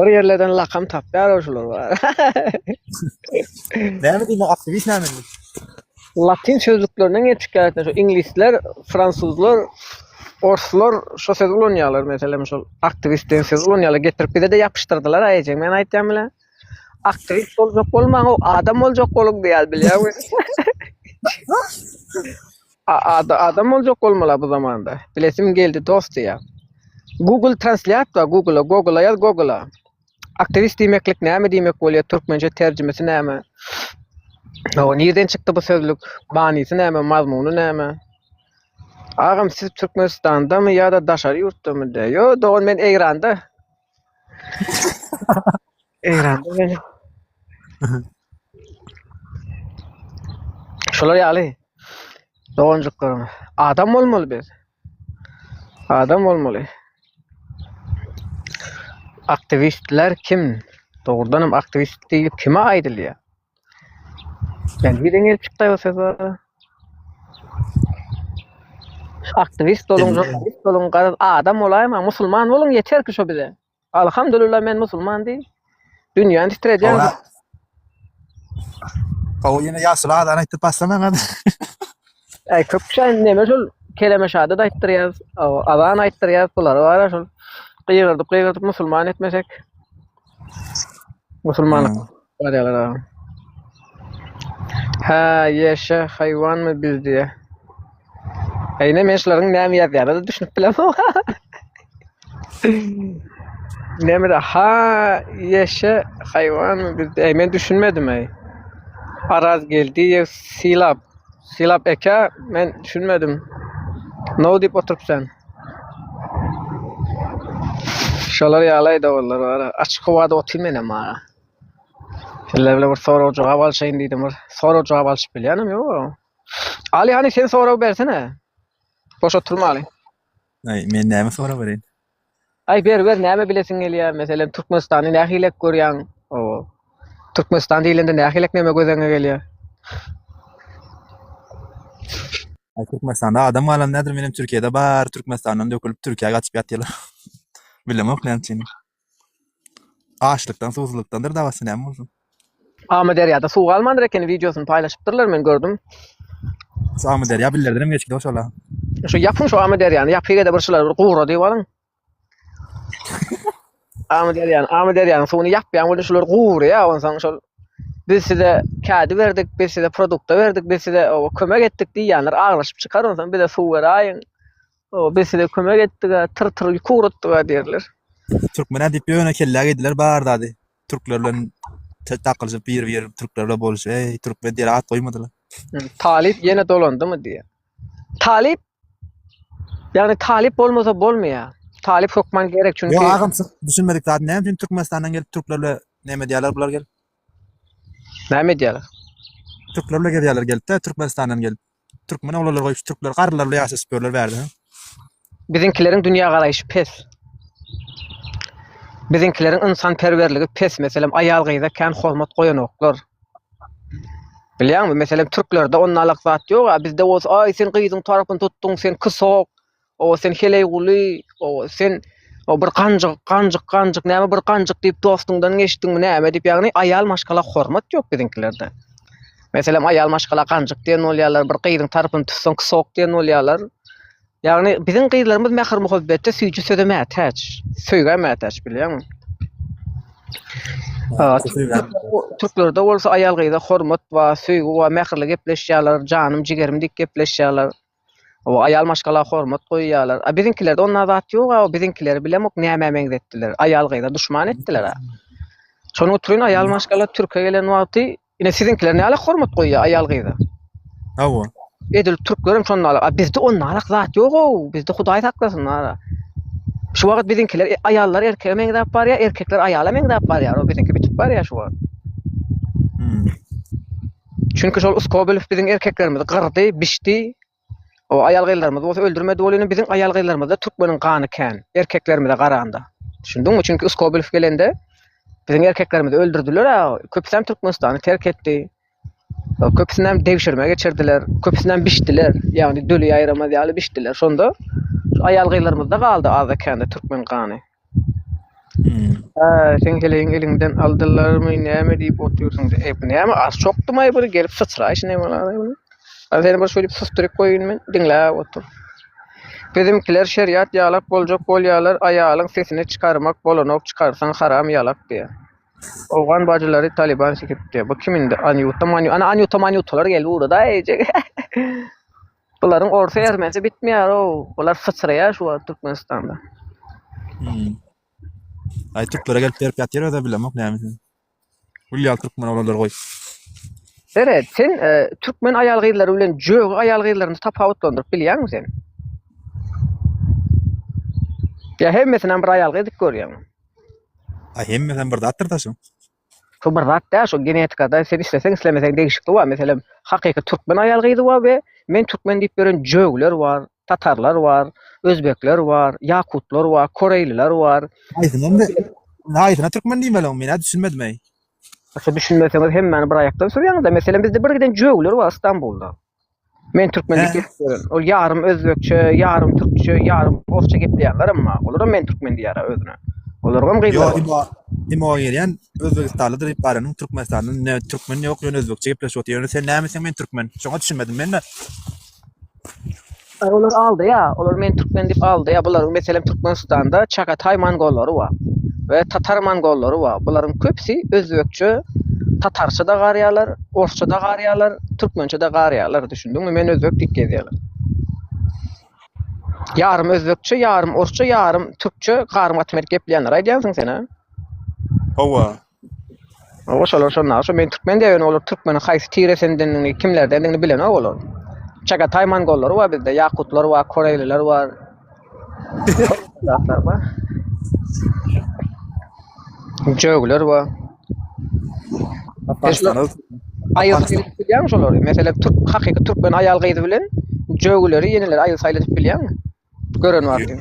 Bir ýerlerden lakam tapýar ol şular bar. Näme diýmek aktiwist näme diýmek? Latyn sözlüklerinden gelip çykýar ýa-da şu iňlisler, fransuzlar, orslar şu sözi ulanýarlar meselem şol aktiwist diýen sözi ulanýarlar getirip bize-de ýapyşdyrdylar aý ejeň men aýtýan bilen. Aktiwist boljak bolmaň o adam boljak boluň diýýär bilýäňmi? A ada adam boljak bolmala bu zamanda. Bilesim geldi dost diýä. Google translýat bar Google-a, Google-a ýaz Google-a. Aktiwist diýmeklik näme diýmek bolýar, türkmençe terjimesi näme? Hawa, nirden çykdy bu sözlük? Manysy näme, mazmuny näme? Agam siz Türkmenistandamy ýa-da daşary ýurtdamy? Dä, ýo dogan men Eýranda. Eýranda meni. Şolar ýaly doganjyklaryň adam bolmaly biz. Adam bolmaly. Aktivistler kim? Dogrudan hem aktivist diýip kime aýdylýar? Ben bir deňe çykdy bu söz bar. Aktivist olun, Demek- jurnalist olun, garaz adam bolaýma, musulman bolun ýeter ki şu bize. Alhamdulillah men musulman diý. Dünýäni titredýän. Howra. Howa ýene ýaşyl adam aýtdyp başlamaň hadi. Äý köp kişi neme şol keleme şahadat aýtdyrýar, o, azan aýtdyrýar, bular bara şol gygyrdyp gygyrdyp musulman etmesek. Musulmanlyk. Barýarlar agam. Hä, ýeşe, haýwanmy biz diýýä. Eýne men şularyň näme ýazýanyna düşünip bilemok. Nämede ha, ýeşe, haýwanmy biz diýýä. Men düşünmedim eý. Araz Geldiýew sylap. Sylap eke, men düşünmedim. No diýip oturyp sen. Şolar ýaly aýdawullar bar. Açyk howada otyr menem ha. Sizler bile bir sorag jogap alşaýyn diýdim bir. Sorag jogap alşyp bilýänim ýok. Ali hani sen sorag bersene. Boş oturmaly. Ay men näme sorag bereýin? Ay ber ber näme bilesiň gelýär? Meselem Türkmenistany nähili görýäň? O. Türkmenistan diýlende nähili näme gözeňe gelýär? Ay Türkmenistanda adam galan nädir? Menem Türkiýede bar, Türkmenistandan dökülip Türkiýä gaçyp ýatýarlar. Bilemok näme üçin. Açlykdan suwsuzlykdandyr dabasy näme bolsun. Amyderýada suw galmandyr ekeni wideosyny paýlaşypdyrlar men gördüm. Şu Amyderýa billerdenem geçgidi oşala. Şu ýapyň şu Amyderýany ýapygede bir şular bir gura diýip alyň. Amyderýany Amyderýanyň suwuny ýapýaň welin şular gurýa onsoň şol biz size kädi berdik biz size produkta berdik biz size kömek etdik diýýänler aglaşyp çykar onsoň bize suw beräýiň. O biz size kömek etdiga tyr tyr ýük ugratdyga diýerler. Türkmenä diýip ýöne kellä geýdiler bar zady. Türkler bilen te- takylyşyp bir bir türkler bilen boluşyp eý türkmen diýer at goýmadylar. Hı, Talyp ýene dolandymy diýýär. Talyp ýagny talyp bolmasa bolmaýar. Talyp hökman gerek çünki Ýok agam siz düşünmedik zady näme üçin Türkmenistandan gelip türkler bilen näme diýerler bular gelip. näme edýärler? Türkler bilen gezýärler gelip de Türkmenistandan gelip. Türkmen oglanlar goýup şu türkler garrylar bilen ýaşaşyp ýörler bärde. hä? Biziňkileriň dünýägaraýşy pes. Biziňkileriň ynsanperwerligi pes, meselem, aýal-gyza kän hormat goýanoklar. Bilýäňmi, meselem, türklerde onnalyk zat ýog-a, bizde bolsa, aý, sen gyzyň tarapyny tutduň, sen kysok, Oba sen Heleýguly, oba sen o bir ganjyk, ganjyk, ganjyk, näme bir ganjyk diýip dostuňdan geçdiňmi näme diýip, ýagny aýal maşgala hormat ýok biziňkilerde. Meselem, aýal maşgala ganjyk diýen bolýarlar, bir gyzyň tarapyny tutsaň sok diýen bolýarlar. Ýagny biziň gyzlarymyz mähir-muhabbetde süýji söze mätäç, söýgä mätäç bilýäňmi? Türklerde bolsa aýal gyza hormat bar, söýgi bar, mähirli gepleşýärler, janym, jigerim diýip gepleşýärler. O aýal maşgala hormat goýýalar. A biziňkilerde onda zat ýoga o biziňkileri bilemok nämä meňzetdiler. Aýal gyza duşman etdiler a. Şonuň üçin aýal maşgala türke gelen wagty ine siziňkiler näle hormat goýýar aýal gyza. Hawa. Edil türklerim şondalar. A bizde onda alak zat ýoga o. Bizde hudaý saklasyn ara. Şu wagt biziňkiler e, aýallar erkege meňzäp barýar, erkekler aýala meňzäp barýar. O biziňki bitip barýar şu wagt. Hmm. Çünki şol Uskobilow biziň erkeklerimizi gyrdy, biçdi. O aýal-gyzlarymyzy bolsa öldürmedi. Ol ýöne biziň aýal-gyzlarymyzda türkmeniň gany kän, erkeklerimize garanda. Düşündiňmi? Çünki Uskobilow gelende biziň erkeklerimizi öldürdiler-ä. Köpüsem Türkmenistany terk etdi. Köpüsinem degşirme geçirdiler. Köpüsinem biçdiler. Ýagny döli ýaýramaz ýaly biçdiler. Şonda şu aýal-gyzlarymyzda galdy azda-kände türkmen gany. Hä, seň heleýiň eliňden aldylarmy, näme diýip otyrsyň? E, bu näme, az çokdumaý bir gelip syçraý şine bolany bu. A seni bir şeýdip susduryp goýun men, diňläp otur. Bizimkiler şeriat ýalak boljak bolýarlar, aýalyň sesini çykarmak bolanok, çykarsaň haram ýalak diýýär. Owgan bajylary Talyban sikipdi. Bu kim indi? Anýuta, Manýuta. Ana Anýuta, Manýutalar gelip ugrady-aý eýjek. Bularyň orsy ermenisi bitmeýär ow. Bular syçraýar şu wagt Türkmenistanda. Hmm. Ay Türklere gelip berip ýatyr öde bilemok näme sen. Gül ýal Türkmen oglanlar goý. Seret, sen e, türkmen aýal gyzlary bilen jögi aýal gyzlaryny tapawutlandyryp bilýäňmi sen? Ya hemmesini hem bir aýal gyz edip görýäňmi? Ay hemme sen bir zatdyr da şu. Şu bir zat däl, şu genetikada sen isleseň islemeseň degişikli bar. Meselem, hakyky türkmen aýal gyzy bar we men türkmen diýip ýören jögler bar, tatarlar bar, özbekler bar, ýakutlar bar, koreýliler bar. Haýsyny indi haýsyna türkmen diýmeli men düşünmedim-eý. Şu düşünmeseňiz hemmäni bir aýakdan sürýäňiz-de. Meselem bizde bir giden jögler bar Stambulda. Men türkmen diýip Hä? geçýärin. Ol ýarym özbekçe, ýarym türkçe, ýarym orsça gepleýärler emma. Olaram men türkmen diýýärä özüne. Olaryňam Yo, gyzlary bar. imo, imo gelýän özbegistanlydyr diýip baranyň türkmenistanly ne türkmen ýok ýöne özbekçe gepleşip otyr. Ýöne sen nämüçin men türkmen? Şoňa düşünmedim men-de. Aý olar aldaýa, olar meni türkmen diýip aldaýa, bularyň meselem Türkmenistanda Çagataý mongollary bar we Tatar mongollary bar, bularyň köpüsi özbekçe, tatarça da garýalar, orsça da garýalar, türkmençe de garýalar, düşündiňmi, men özbek diýip gezýäler. Ýarym özbekçe, ýarym orsça, ýarym türkçe garym gaty berk gepleýänler aýdýansyň sen-a? Hawa, Olar şolar şonda, şu men türkmen diýen olar türkmeniň haýsy tiresindendigini, kimlerdendigini bilenok olar. Çagataý mongollary bar bizde, ýakutlar bar, koreýliler bar. Zatlar bar. Jögler bar. Apaşlar. Aýyl edip bilýän şolary. Meselem, türk hakyky türkmen aýal gyzy bilen jögleri, ýeneleri aýyl saýyl edip bilýän. Gören var diye.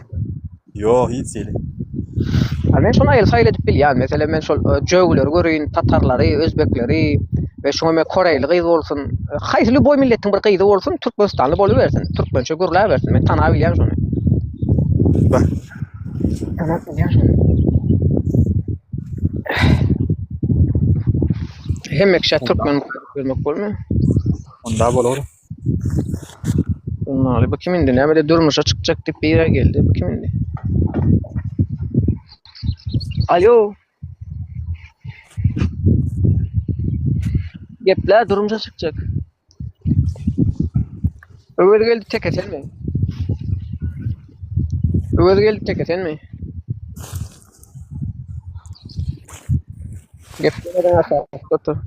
Yok hiç değil. Ha, men şonu aýyl saýyl edip bilýän. Meselem, men şol e, jögüleri göreýin, tatarlary, özbekleri we şoňa men koreýli gyz bolsun, e, haýsy lýuboý milletiň bir gyzy bolsun, türkmenistanly bolubersin, türkmençe gürläbersin. Men tanap bilýän şony. Bak. Tanap bilýän şony. Hemme kişä türkmen görmek bolmy? Onda bol oğlum. Onnaly bu kim indi? Näme de durmuşa çykjak diýip bir ýere geldi. Bu kim indi? Alo. Geple durmuşa çykjak. Öwez geldi tek eten mi? Öwez geldi tek eten mi? Geplemeden aşakda tur.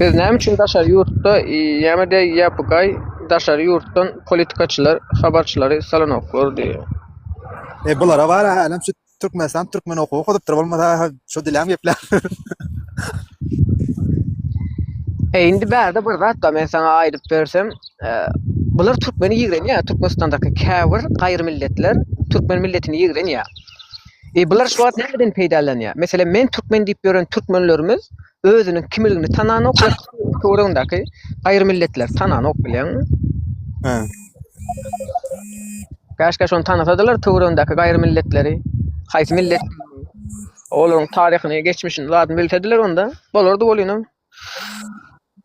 Biz näme üçin daşary ýurtda ýa-da ýapygaý daşary ýurtdan politikaçylar, habarçylary salanoklar diýýär. E bulara bar hälem şu Türkmenistan türkmen okuw okudypdyr bolmasa şu dilem geplär. E indi bärde bir zat da men sana aýdyp bersem, e, bular türkmeni ýigrenýär. Türkmenistandaky käbir gaýry milletler türkmen milletini ýigrenýär. E bular şu wagt nämeden peýdalanýar? Meselem, men türkmen diýip ýören türkmenlerimiz özüniň kimligini tananok, töweregindäki aýry milletler tananok bilýäňmi? Hä. Käşkä şony tanasadylar töweregindäki gaýry milletleri, haýsy millet olaryň taryhyny, geçmişini zadyny bilsediler onda bolardy bolýan.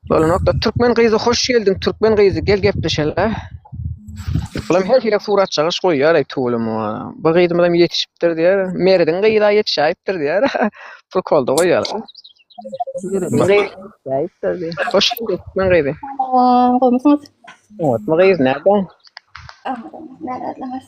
Bolanokda türkmen gyzy hoş geldiň türkmen gyzy gel gepleşele. Bulam her hile surat çalyş goýýar aý tuwulym. Bu gyzymyz hem ýetişipdir diýär. Merdiň gyza ýetişäýipdir diýär. Pul kolda goýýar. Ýetişäýipdir diýär. Hoş geldiň türkmen gyzy. Salam, goýmuşyňyz. Oňatma gyz nädäň? Aman, nädädläňiz?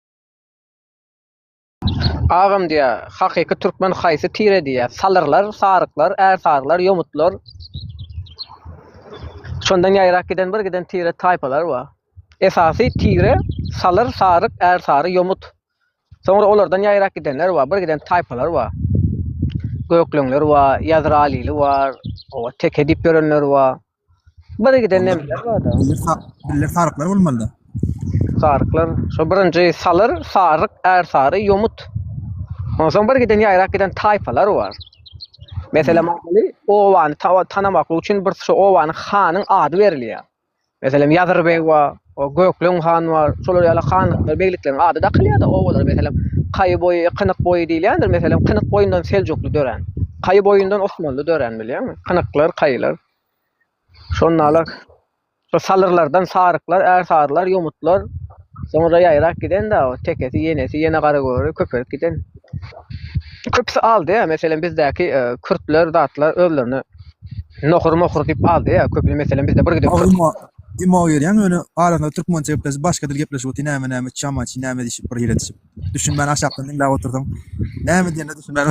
Agam diýýär, hakyky türkmen haýsy tire diýýär, salyrlar, saryklar, ärsaryklar, ýomutlar. Şondan ýaýrak giden bir giden tire taýpalar bar. Esasy tire salyr, saryk, ärsary, ýomut. Soňra olardan ýaýrak gidenler bar, bir giden taýpalar bar. Gökleňler bar, ýazralyly bar, oba teke diýip ýörenler bar. Bir giden Onda- nemeler bar-da. Bille sa- bille saryklar bolmalyda. Saryklar. Şu birinji salyr, saryk, är sary, ýomut. Ondan soň bir giden ýaýrak giden taýpalar bar. Mesela maňaly obany ta- tanamaklyk üçin bir şu obanyň hanyň ady berilýär. Meselem Ýazyr beg bar. Gökleň hany bar. Şolar ýaly hanlyklar, beglikleň ady dakylýar-da obalara. Meselem, Kaýy boýy, Kynyk boýy diýilýändir. Meselem, Kynyk boýundan Seljukly dörän. Kaýy boýundan Osmanly dörän, bilýäňmi? Kynyklar, Kaýylar. Şondalar şo Salyrlardan Saryklar, Ärsarylar, Ýomutlar. Soňra ýaýrap giden-dä, tekesi, ýenesi, ýene Garagöri köpelip giden. Köpüsi aldy-ä. Meselem, bizdäki kürtler, zatlar özlerini Nohur-mohur diýip aldy-ä. Köpüsi, meselem, bizde bir giden kürtler. Imo gelýäň ýöne arasynda türkmençe gepleşip başga dil gepleşip otyr näme näme çama çi näme diýşip bir ýere düşüp düşünmän aşakdan diňläp otursaň näme diýenine düşünmän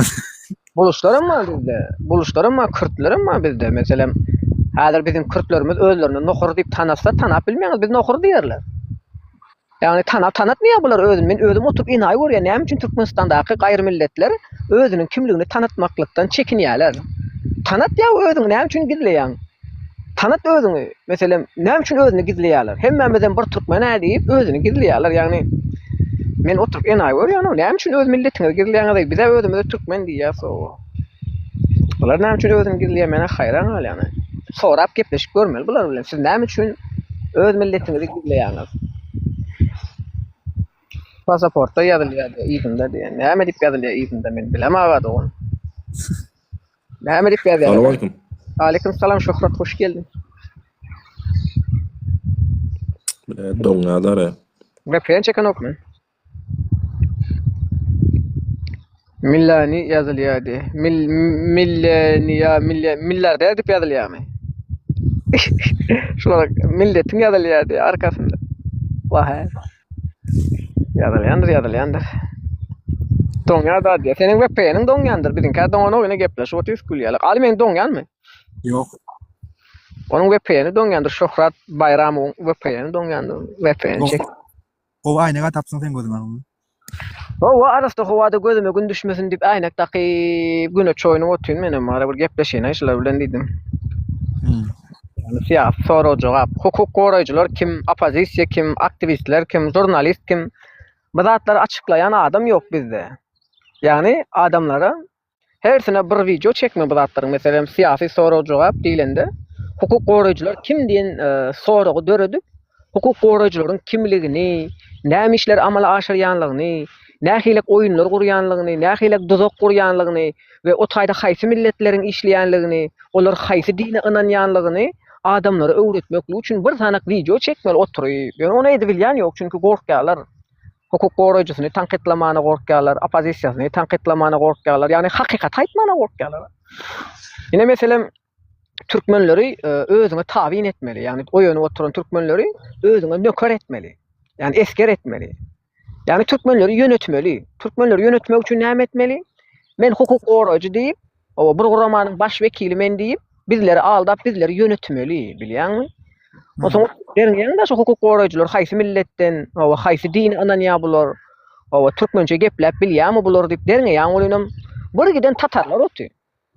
Buluşlar hem bar bizde. Buluşlar hem bar, kürtler hem bar bizde. Meselem, häzir biziň kürtlerimiz özlerini nohur diýip tanasa, tanap bilmeýäňiz, biz nohur diýerler. Ýagny tana tanatmaýar bular özüni. Men özüm oturyp enaýy görýän näme üçin Türkmenistandaky gaýry milletler özüniň kimligini tanatmaklykdan çekinýärler. Tanat ýa özüňi näme üçin gizleýäň. Tanat özüňi. Meselem näme üçin özüni gizleýärler. Hemmämizem bir türkmen-ä diýip özüni gizleýärler. Ýagny men oturyp enaýy görýän näme üçin öz milletiňizi gizleýäňiz-eý. Biz-ä özümize türkmen diýýäs-ow. Bular näme üçin özüni gizleýär men haýran galýan. Sorap gepleşip görmeli bular bilen. Siz näme üçin öz milletiňizi gizleýäňiz? Pasaportda ýazylýar diýär, yzynda diýär. Näme diýip ýazylýar yzynda men bilem aga dogan. Näme diýip ýazýar? Salam Aleyküm salam Şöhrat hoş geldiň. Bile doňňadara. Ve pren çeken okmy? Millani ýazylýardy. Mil milleniýa milli millarder diýip ýazylýarmy? Şular milletiň ýazylýardy arkasynda. Wah. Ýazylýandyr, ýazylýandyr. Doňýar da diýär. Seniň VPN-iň doňýandyr. Biziňkä doňanok ýene gepleşip otyrys gülýärler. Al meniň doňýanmy? Ýok. Onuň VPN-i doňýandyr. Şöhrat Baýramowyň VPN-i doňýandyr. VPN çek. Gowy aýnega tapsyň sen gözüňe. Howwa arassa howada gözüme gün düşmesin diýip äýnek dakyp güne çoýunyp otyryn menem ara bir gepleşeýin-aý şular bilen diýdim. Ýöne syýasy sorag jogap, hukuk goraýjylar kim, oppozisiýa kim, aktiwistler kim, žurnalist kim? Bu zatlary açyklaýan adam ýok bizde. Ýagny adamlara Hersine bir wideo çekme bu zatlaryň meselem syýasy sorag jogap diýlende hukuk goraýjylar kim diýen e, soragy döredip hukuk goraýjylaryň kimligini, näme işleri amala aşyrýanlygyny, nähilek oýunlar gurýanlygyny, nähilek duzak gurýanlygyny we o taýda haýsy milletleriň işleýänligini, olar haýsy dine ynanýanlygyny adamlara öwretmeklik üçin bir sanak wideo çekmeli oturyp. Ýöne ony edip bilýän ýok, çünki gorkýarlar. hukuk goraýjysyny tankytlamana gorkýarlar, oppozisiýasyny tankytlamana gorkýarlar. Ýagny hakykaty aýtmana gorkýarlar. Ine meselem türkmenleri e, özüňe tabyn etmeli. Ýagny oýanyp oturan türkmenleri özüňe nöker etmeli. Ýagny esker etmeli. Ýagny türkmenleri ýönetmeli. Türkmenleri ýönetmek üçin näme etmeli? Men hukuk goraýjy diýip, Oba bir guramanyň baş wekili men diýip, bizleri aldap, bizleri ýönetmeli, bilýäňmi? Onsoň derňeýäň-de şu hukuk goraýjylar haýsy milletden, oba haýsy dine ynanýar bular? Oba türkmençe gepläp bilýärmi bular diýip derňeýäň welinem bir giden tatarlar oty.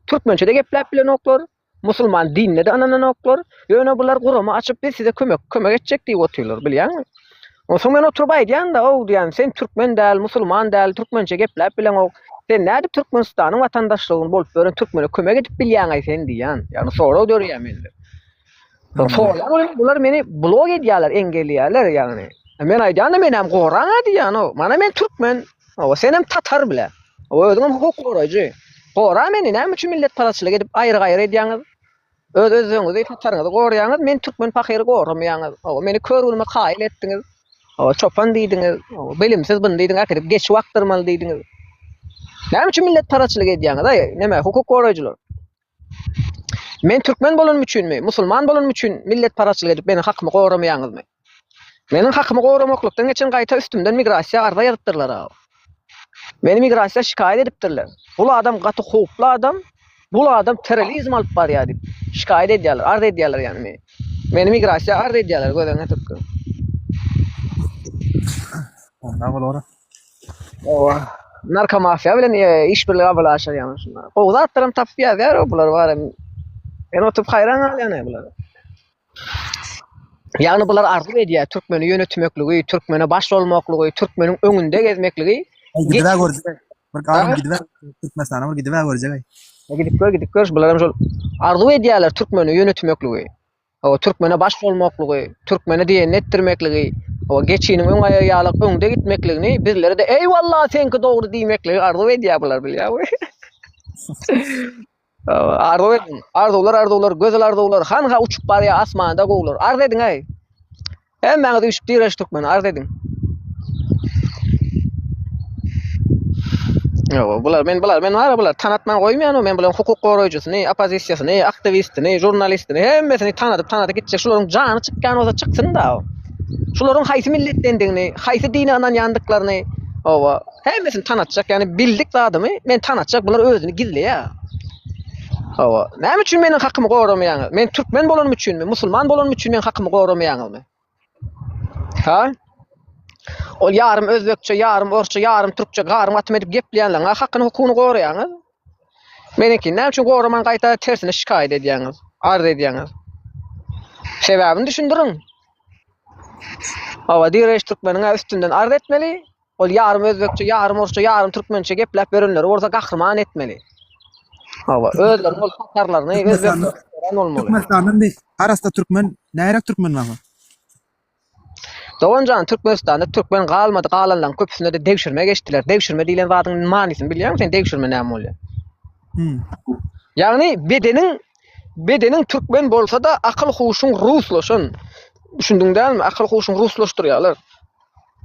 Türkmençe-de gepläp bilenoklar, musulman dinine-de ynananoklar, ýöne bular gurama açyp biz size kömek kömek etjek diýip otyrlar, bilýäňmi? Onsoň men oturyp aýdýan-da, ow diýýän, sen türkmen däl, musulman däl, türkmençe gepläp bileňok. Sen nädip Türkmenistanyň watandaşlygyny bolup ýören türkmene kömek edip bilýäňaý sen diýýän. Ýagny sorag dörýär mende. Soraýan bular meni blok edýärler, engelleýärler ýagny. Men aýdýan-da meni hem goraň-a diýýän, ow. Mana men türkmen, ow, sen hem tatar bile. Ow, özüň hem hukuk goraýjy. Gora meni, näme üçin milletparazçylyk edip aýry-gaýry edýäňiz? Öz özüňizi hataryňyzy gorýäňiz meni türkmen pahyry goramaýaňyz ow meni kör günüme kaýyl etdiňiz ow çopan diýdiňiz ow bilimsiz byn diýdiň äkidip geçi bakdyrmaly diýdiňiz näme üçin millet paraçylyk edýäňiz aý näme hukuk goraýjylar men türkmen bolanym üçinmi musulman bolanym üçin millet paraçylyk edip meniň hakymy goramaýaňyzmy Meniň hakymy goramaklykdan geçen gaýta üstümden migrasiýa arza ýazypdyrlar-a. Meni migrasiýa şikaýat edipdirler. Bul adam gaty howply adam, bul adam terrolizm alyp barýar diýip şikaýat edýärler, arz edýärler ýagny meni. Meni migrasiýa arz edýärler gözüňe türküm. Onda bolar. Owa. Narkomafiýa bilen işbirligi amala aşyrýarlar şunda. Gowy zatlaram tapyp ýazýar-a bular barem. Men oturyp haýran galýan-a bulara. Ýagny bular arzuw edýär, türkmeni ýönetmekligi, türkmene baş bolmaklygy, türkmeniň öňünde gezmekligi. Gidibä görjek. Bir galam gidibä Türkmenistana bir gidibä görjek. E, gidip gör, gidip gör. Bular hem şol arzuw edýärler türkmeni ýönetmekligi. O türkmene baş bolmaklygy, türkmene diýenini etdirmekligi, o geçiniň öň aýagy ýaly öňde gitmekligini, bizlere de eýwallah seňki dogry diýmekligi arzuw edýär bular bilýärmi? Arzuw ediň. Arzuwlar, arzuwlar, gözel arzuwlar. Hanha uçup barýar asmanda gowular. Arz ediň eý. Hemmäňiz üýşüp direş türkmen arz ediň. Ýok, bular men bular men bar bular tanatman goýmaýan men bulan hukuk goraýjysyny, oppozisiýasyny, aktiwistini, žurnalistini hemmesini tanadyp tanadyp gitjek. Şularyň jany çykýan bolsa çyksyn da. Şularyň haýsy milletdendigini, haýsy dine ynanýandyklaryny, owa, Hemmesini tanatjak, yani bildik zadymy men tanatjak, bular özüni gizleýär. Hawa, näme üçin meniň hakymy goramaýaňyz? Men türkmen bolanym üçinmi, musulman bolanym üçin meniň hakymy goramaýaňyzmy? Ha? Ol ýarym özbekçe, ýarym orsça, ýarym türkçe garym atym edip gepleýänleriň hakyny hukugyny goraýaňyz. Meniňki näme üçin goraman gaýta tersine şikaýat edýäňiz, arz edýäňiz. Sebäbini düşündiriň. Hawa, direş türkmeniň üstünden arz etmeli. Ol ýarym özbekçe, ýarym orsça, ýarym türkmençe gepläp ýörenleri bolsa gahryman etmeli. Hawa, özleriniň ol tatarlaryny, özbeklerini öwren bolmaly. Türkmenistanda indi arassa türkmen, närak türkmen barmy? Doganjan, Türkmenistanda türkmen galmady, galanlaryň köpüsine-de degşirme geçdiler. Degşirme diýlen zadyň manysyny bilýärmiň sen? Degşirme näme bolýar? Hmm. Ýagny bedeniň bedeniň türkmen bolsa-da, akyl-huşuň ruslaşan. Düşündiň dälmi? Akyl-huşuň ruslaşdyrýarlar.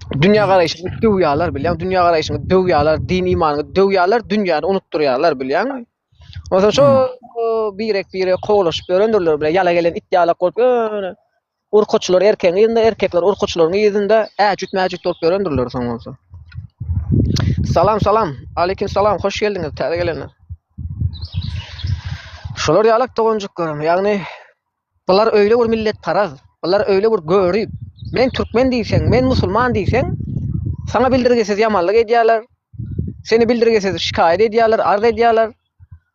Dünýä garaýşyňy döwýärler bilýän, dünýä garaýşyňy döwýärler, din imanyňy döwýärler, dünýäni unutdyrýarlar bilýän. Ondan şo birek bire kowlaşyp ýörendirler bile, ýala gelen it ýalak bolup ýöne. Urkaçylar erkegiň ýerinde, erkekler urkaçylaryň ýerinde äjüt mäjüt bolup ýörendirler soň bolsa. Salam salam, aleyküm salam, hoş geldiňiz, täze gelenler. Şolar ýalak doganjyklaryň, ýagny Bular öýle bir milletparaz, bular öýle bir görip, men türkmen diýseň, men musulman diýseň, saňa bildirgisiz ýamanlyk edýärler, seni bildirgisiz şikaýat edýärler, arz edýärler.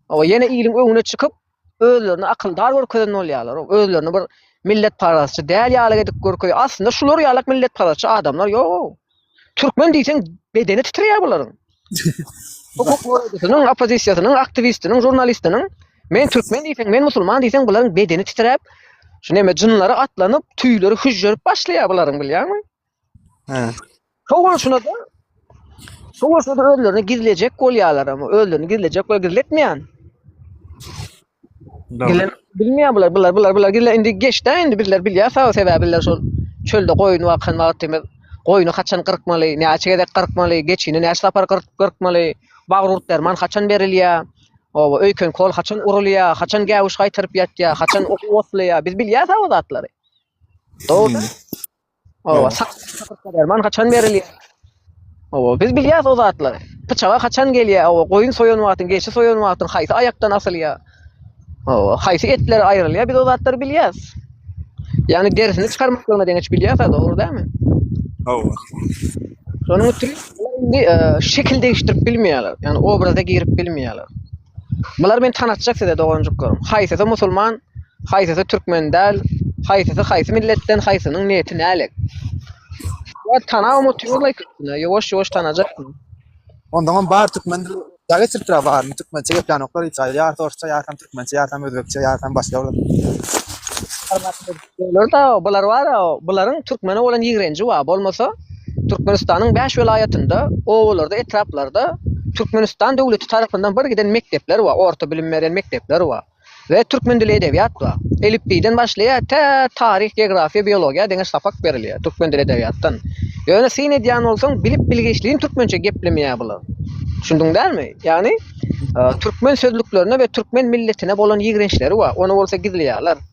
Hawa, ýene iliň öňüne çykyp, özlerini akyldar görkezen bolýarlar. Özlerini bir milletparazçy däl ýaly edip görkezýär. Aslynda şular ýalak milletparazçy adamlar ýok. Türkmen diýseň bedeni titreýär bularyň. Hukuk goraýjysynyň, oppozisiýasynyň, aktiwistiniň, žurnalistiniň men türkmen diýseň, men musulman diýseň bularyň bedeni titräp, şu neme jynlary atlanyp, tüýleri hüžžerip başlaýar bularyň bilýärmi? Hä. Şo bolşuna da Şo bolsa da özlerini gizlejek bolýarlar ama özlerini gizlejek we gizletmeýän. Gelen bilmiyor bular bular bular bular gelen indi geçdi indi bizler bilýär sag sebäbi bizler şol çölde goýun bakan wagtymyz goýny haçan gyrkmaly näçe gezek gyrkmaly geçini näçe sapar gyrk gyrkmaly bagyr urt derman haçan berilýär oba öýken kol haçan urulýar haçan gäwüş gaýtaryp ýatýar haçan ot otlaýar biz bilýär sag o zatlary dogry Owa, sakyrtma derman haçan berilýär? Owa, biz bilýäs o zatlary. Pyçaga haçan gelýär? Owa, goýun soýan wagtyň, geçi soýan wagtyň haýsy aýakdan asylýar? Owa, haýsy etler aýrylýar? Biz o zatlary bilýäs. Ýagny derisini çykarmaklygyna deňeç bilýäs, dogry dälmi? Owa. Şonuň üçin indi e, şekil degişdirip bilmeýärler. Ýagny obraza girip bilmeýärler. Bular meni tanatjak size doganjyklarim. Haýsysy musulman, haýsysy türkmen däl, haýsysy haýsy milletden, haýsynyň niýeti nälet. Ýa tana umut ýola ikisine, ýowaş ýowaş tanajak. Onda on bar türkmen dil. Ýa geçirip tura bar, türkmençe geplenoklar hiç aýy. Ýa sorsça, ýa tam türkmençe, ýa tam özbekçe, ýa tam başga. Olar da bular bar, bularyň türkmene bolan ýigrenji bar. Bolmasa Türkmenistanyň bäş welaýatynda, obalarda, etraplarda Türkmenistan döwleti tarapyndan bir giden mekdepler bar, orta bilim beren mekdepler bar. We türkmen dili edebiýat bar. Elipbiýden başlaýar, tä taryh, geografiýa, biologiýa deňeç sapak berilýär türkmen dili edebiýatdan. Ýöne syn edýän bolsaň, bilip-bilgiçligiň türkmençe geplemeýär bular. Düşündiň dälmi? Ýagny türkmen sözlüklerine we türkmen milletine bolan ýigrençleri bar. Ony bolsa gizleýärler.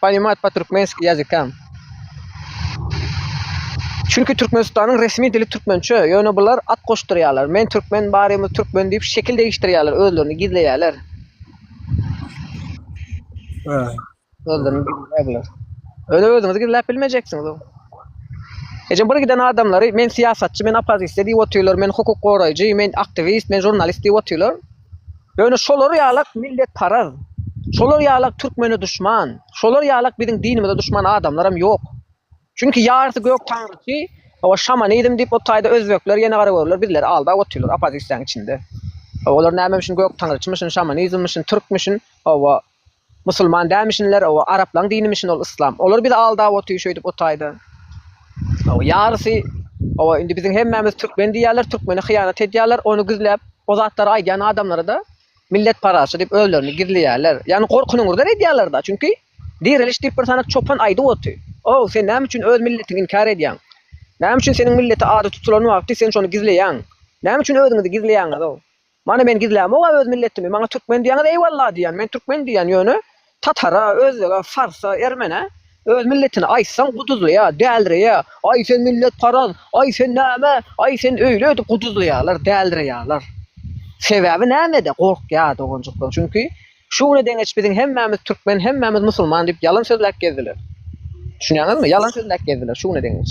Poнимad po türkmenski ýazykam. Çünki Türkmenistanyň resmi dili türkmençe, ýöne bular at goşdurýarlar. Men türkmen, barymyz türkmen diýip şekil degişdirýärler, özlerini gizleýärler. Ha. Özlerini gizleýärler. Öne özüňizi gizläp bilmejeksiňiz. Ejem bir giden adamlary men syýasatçy, men opozisiýa diýip otyrlar, men hukuk goraýjy, men aktiwist, men jurnalist diýip otyrlar. Ýöne şolar ýalak milletparaz, şolar ýalak türkmene duşman, şolar ýalak biziň dinimize duşman adamlaram ýok. Çünki ýarysy gök taňryçy, owa şamanizm diýip o taýda özbekler ýene gara görürler, bizleri aldap otyrlar opozisiýaň içinde. Olar nämemişin gök taňryçymyşyn, şamanizmmişin, türkmüşin, owa Musulman dälmişinler owa araplaň dinimişin ol yslam olar bizi aldap oty şöýdip otaýda owa ýarysy owa indi biziň hemmämiz türkmen diýýärler türkmene hyýanat edýärler ony gizläp o zatlary aýdýan adamlarada millet parazçy diýip özlerini gizleýärler ýagny gorkunyňyzdan edýärlerde çünki direliş diýip bir sanak çopan aýdyp oty ow sen näme üçin öz milletiňi inkär edýäň näme üçin seniň milleti ady tutulan wagty sen şony gizleýäň näme üçin özüňizi gizleýäňiz ow. Many men gizlämog-a öz milletimi, maňa türkmen diýýäňiz eýwalla diýýän, men türkmen diýýän, ýöne tatara, özbege, farsa, ermene öz milletini aýtsaň guduzlaýa, dälreýä, aý sen milletparaz, aý sen näme, aý sen öýle öýdüp guduzlaýalar, dälreýalar. Sebäbi nämede gorkýa doganjyklar, çünki şu güne deňeç biziň hemmämiz türkmen, hemmämiz musulman diýip ýalan sözläp gezdiler. Düşünýäňizmi? Ýalan sözläp gezdiler şu güne deňeç.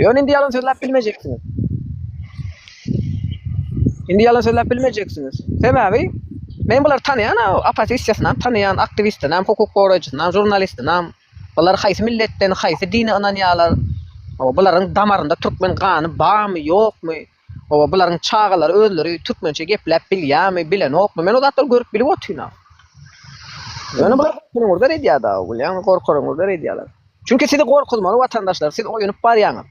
Ýöne indi ýalan sözläp bilmejeksiňiz. Indi ýalan sözläp bilmejeksiňiz. Sebäbi men bular tanýan, opposisiýasyny tanýan, aktiwistini hem, hukuk goraýjysyny hem, žurnalistini hem. Bular haýsy milletden, haýsy dine ynanýarlar? Bularyň damarynda türkmen gany barmy, ýokmy? Hawa bularyň çagalary özleri türkmençe gepläp bilýämi, bilenokmy? Men o zatlary görüp bilip otyryn-a. Ýöne bular gorkuňyzdan edýär-de, bilýäňmi, gorkaryňyzdan edýärler. Çünki sizi gorkuzmaly watandaşlar, siz oýunyp barýaňyz.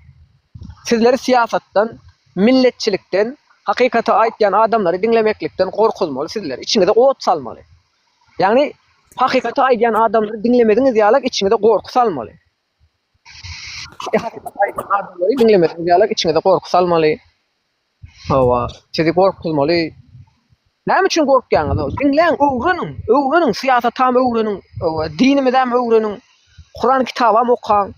Sizleri syýasatdan, milletçilikden, hakykaty aýtýan adamlary diňlemeklikden gorkuzmaly sizleri, içiňize ot salmaly. Ýagny hakykaty aýdýan adamlary diňlemeziňiz ýaly içiňize gorky salmaly. Adamlary diňlemedigiňiz ýaly içiňize gorky salmaly. Hawa, sizi gorkuzmaly. Näme üçin gorkýaňyz? Diňläň, öwreniň, öwreniň, syýasatam öwreniň, hawa, dinimizem öwreniň, Kuran kitabam okaň,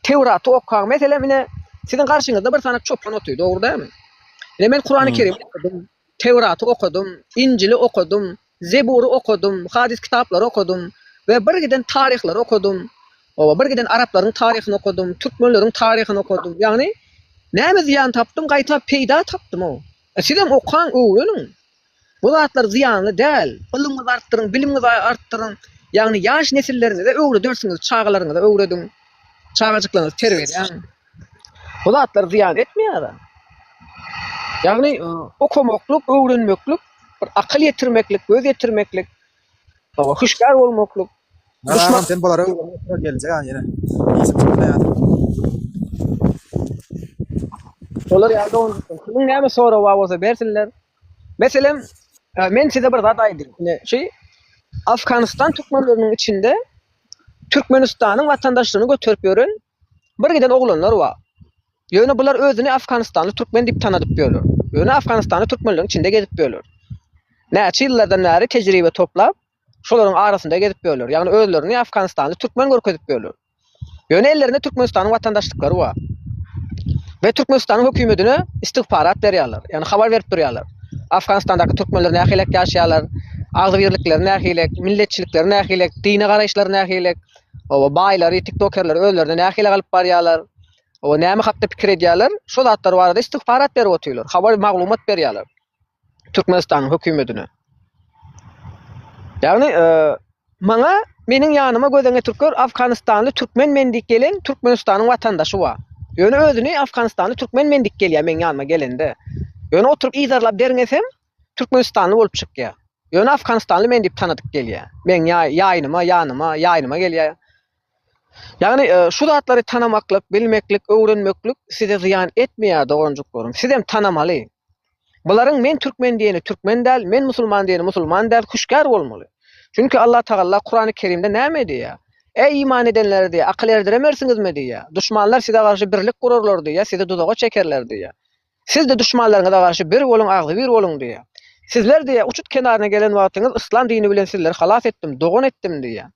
Tewraty okaň. Meselem, ine, siziň garşyňyzda bir sany çopan otyr, dogry dälmi? Ine, men Kurany Kerimi okadym. Töwraty okadym, Injili okadym, Zebury okadym, hadys kitaplary okadym we birgiden taryhlary okadym. Oba birgiden araplaryň taryhyny okadym, türkmenleriň taryhyny okadym. Ýagny näme zyýan tapdym, gaýta peýda tapdym-ow. Sizem okaň, öwreniň. Bu zatlar zyýanly däl. Ylymyňyzy artdyryň, bilimiňizi artdyryň. Ýagny ýaş nesilleriňize öwredersiňiz, çagalaryňyza öwrediň. Çagajyklaryňyzy terbiýeleň. Bu zatlar zyýan etmeýär. Ýagny okamaklyk, öwrenmeklik, bir akyl ýetirmeklik, göz ýetirmeklik, hüşgär bolmaklyk. Duşman sen bulara öwrenip geljek ha ýene. Işim çykmasa ýa. Olar ýa-da kimin näme sorag bar bolsa bersinler. Meselem, men size bir zat aýdýan. Ine, şu Afganistan türkmenleriniň içinde Türkmenistanyň watandaşlygyny göterip ýören Bir giden oglanlar bar. Ýöne bular özüni Afganistanly türkmen diýip tanadyp ýörler. Ýöne Afganistanly türkmenligiň içinde gezip ýörler. Näçe ýyllardan bäri tejribe toplap, şolaryň arasynda gezip ýörler. Ýagny özlerini Afganistanly türkmen görkezip ýörler. Ýöne ellerinde Türkmenistanyň watandaşlyklary bar. We Türkmenistanyň hökümedine istigfarat berýärler. Ýagny habar berip durýarlar. Afganistandaky türkmenler nähilek ýaşaýarlar, agzybirlikleri nähilek, milletçilikleri nähilek, dine garaýyşlary nähilek. Oba baýlary, tiktokerleri özlerine nähili galyp barýarlar, oba näme hakda pikir edýärler, şo zatlar barada istigfarat berip otyrlar, habar maglumat berýärler Türkmenistanyň hökümetine. Ýagny maňa meniň ýanyma gözeňe türker Afganistanly türkmen men diýip gelen Türkmenistanyň watandaşy bar. Ýöne özüni Afganistanly türkmen men diýip gelýär meniň ýanyma gelende. Ýöne oturyp yzarlap derňesem, Türkmenistanly bolup çykýa. Ýöne Afganistanly men diýip tanadyk gelýä. Meň ýa ýaýnyma, ýanyma, ýaýnyma gelýä. Ýagny şu zatlary tanamaklyk, bilmeklik, öwrenmeklik size zyýan etmeýä doganjyklarym. Sizem tanamaly. Bularyň men türkmen diýeni türkmen däl, men musulman diýeni musulman däl, hüşgär bolmaly. Çünki Allah Tagalla Kurany Kerimde näme diýýä? Eý iman edenler diýýä, akyl erdiremersiňizmi diýýä. Duşmanlar size garşy birlik gurarlar diýýä, sizi duzaga çekerler diýýä. Siz-de duşmanlaryňyza garşy bir boluň, agzybir boluň diýýär. Sizler diýýär, uçut kenaryna gelen wagtyňyz yslam dini bilen sizleri halas etdim, dogan etdim diýýär.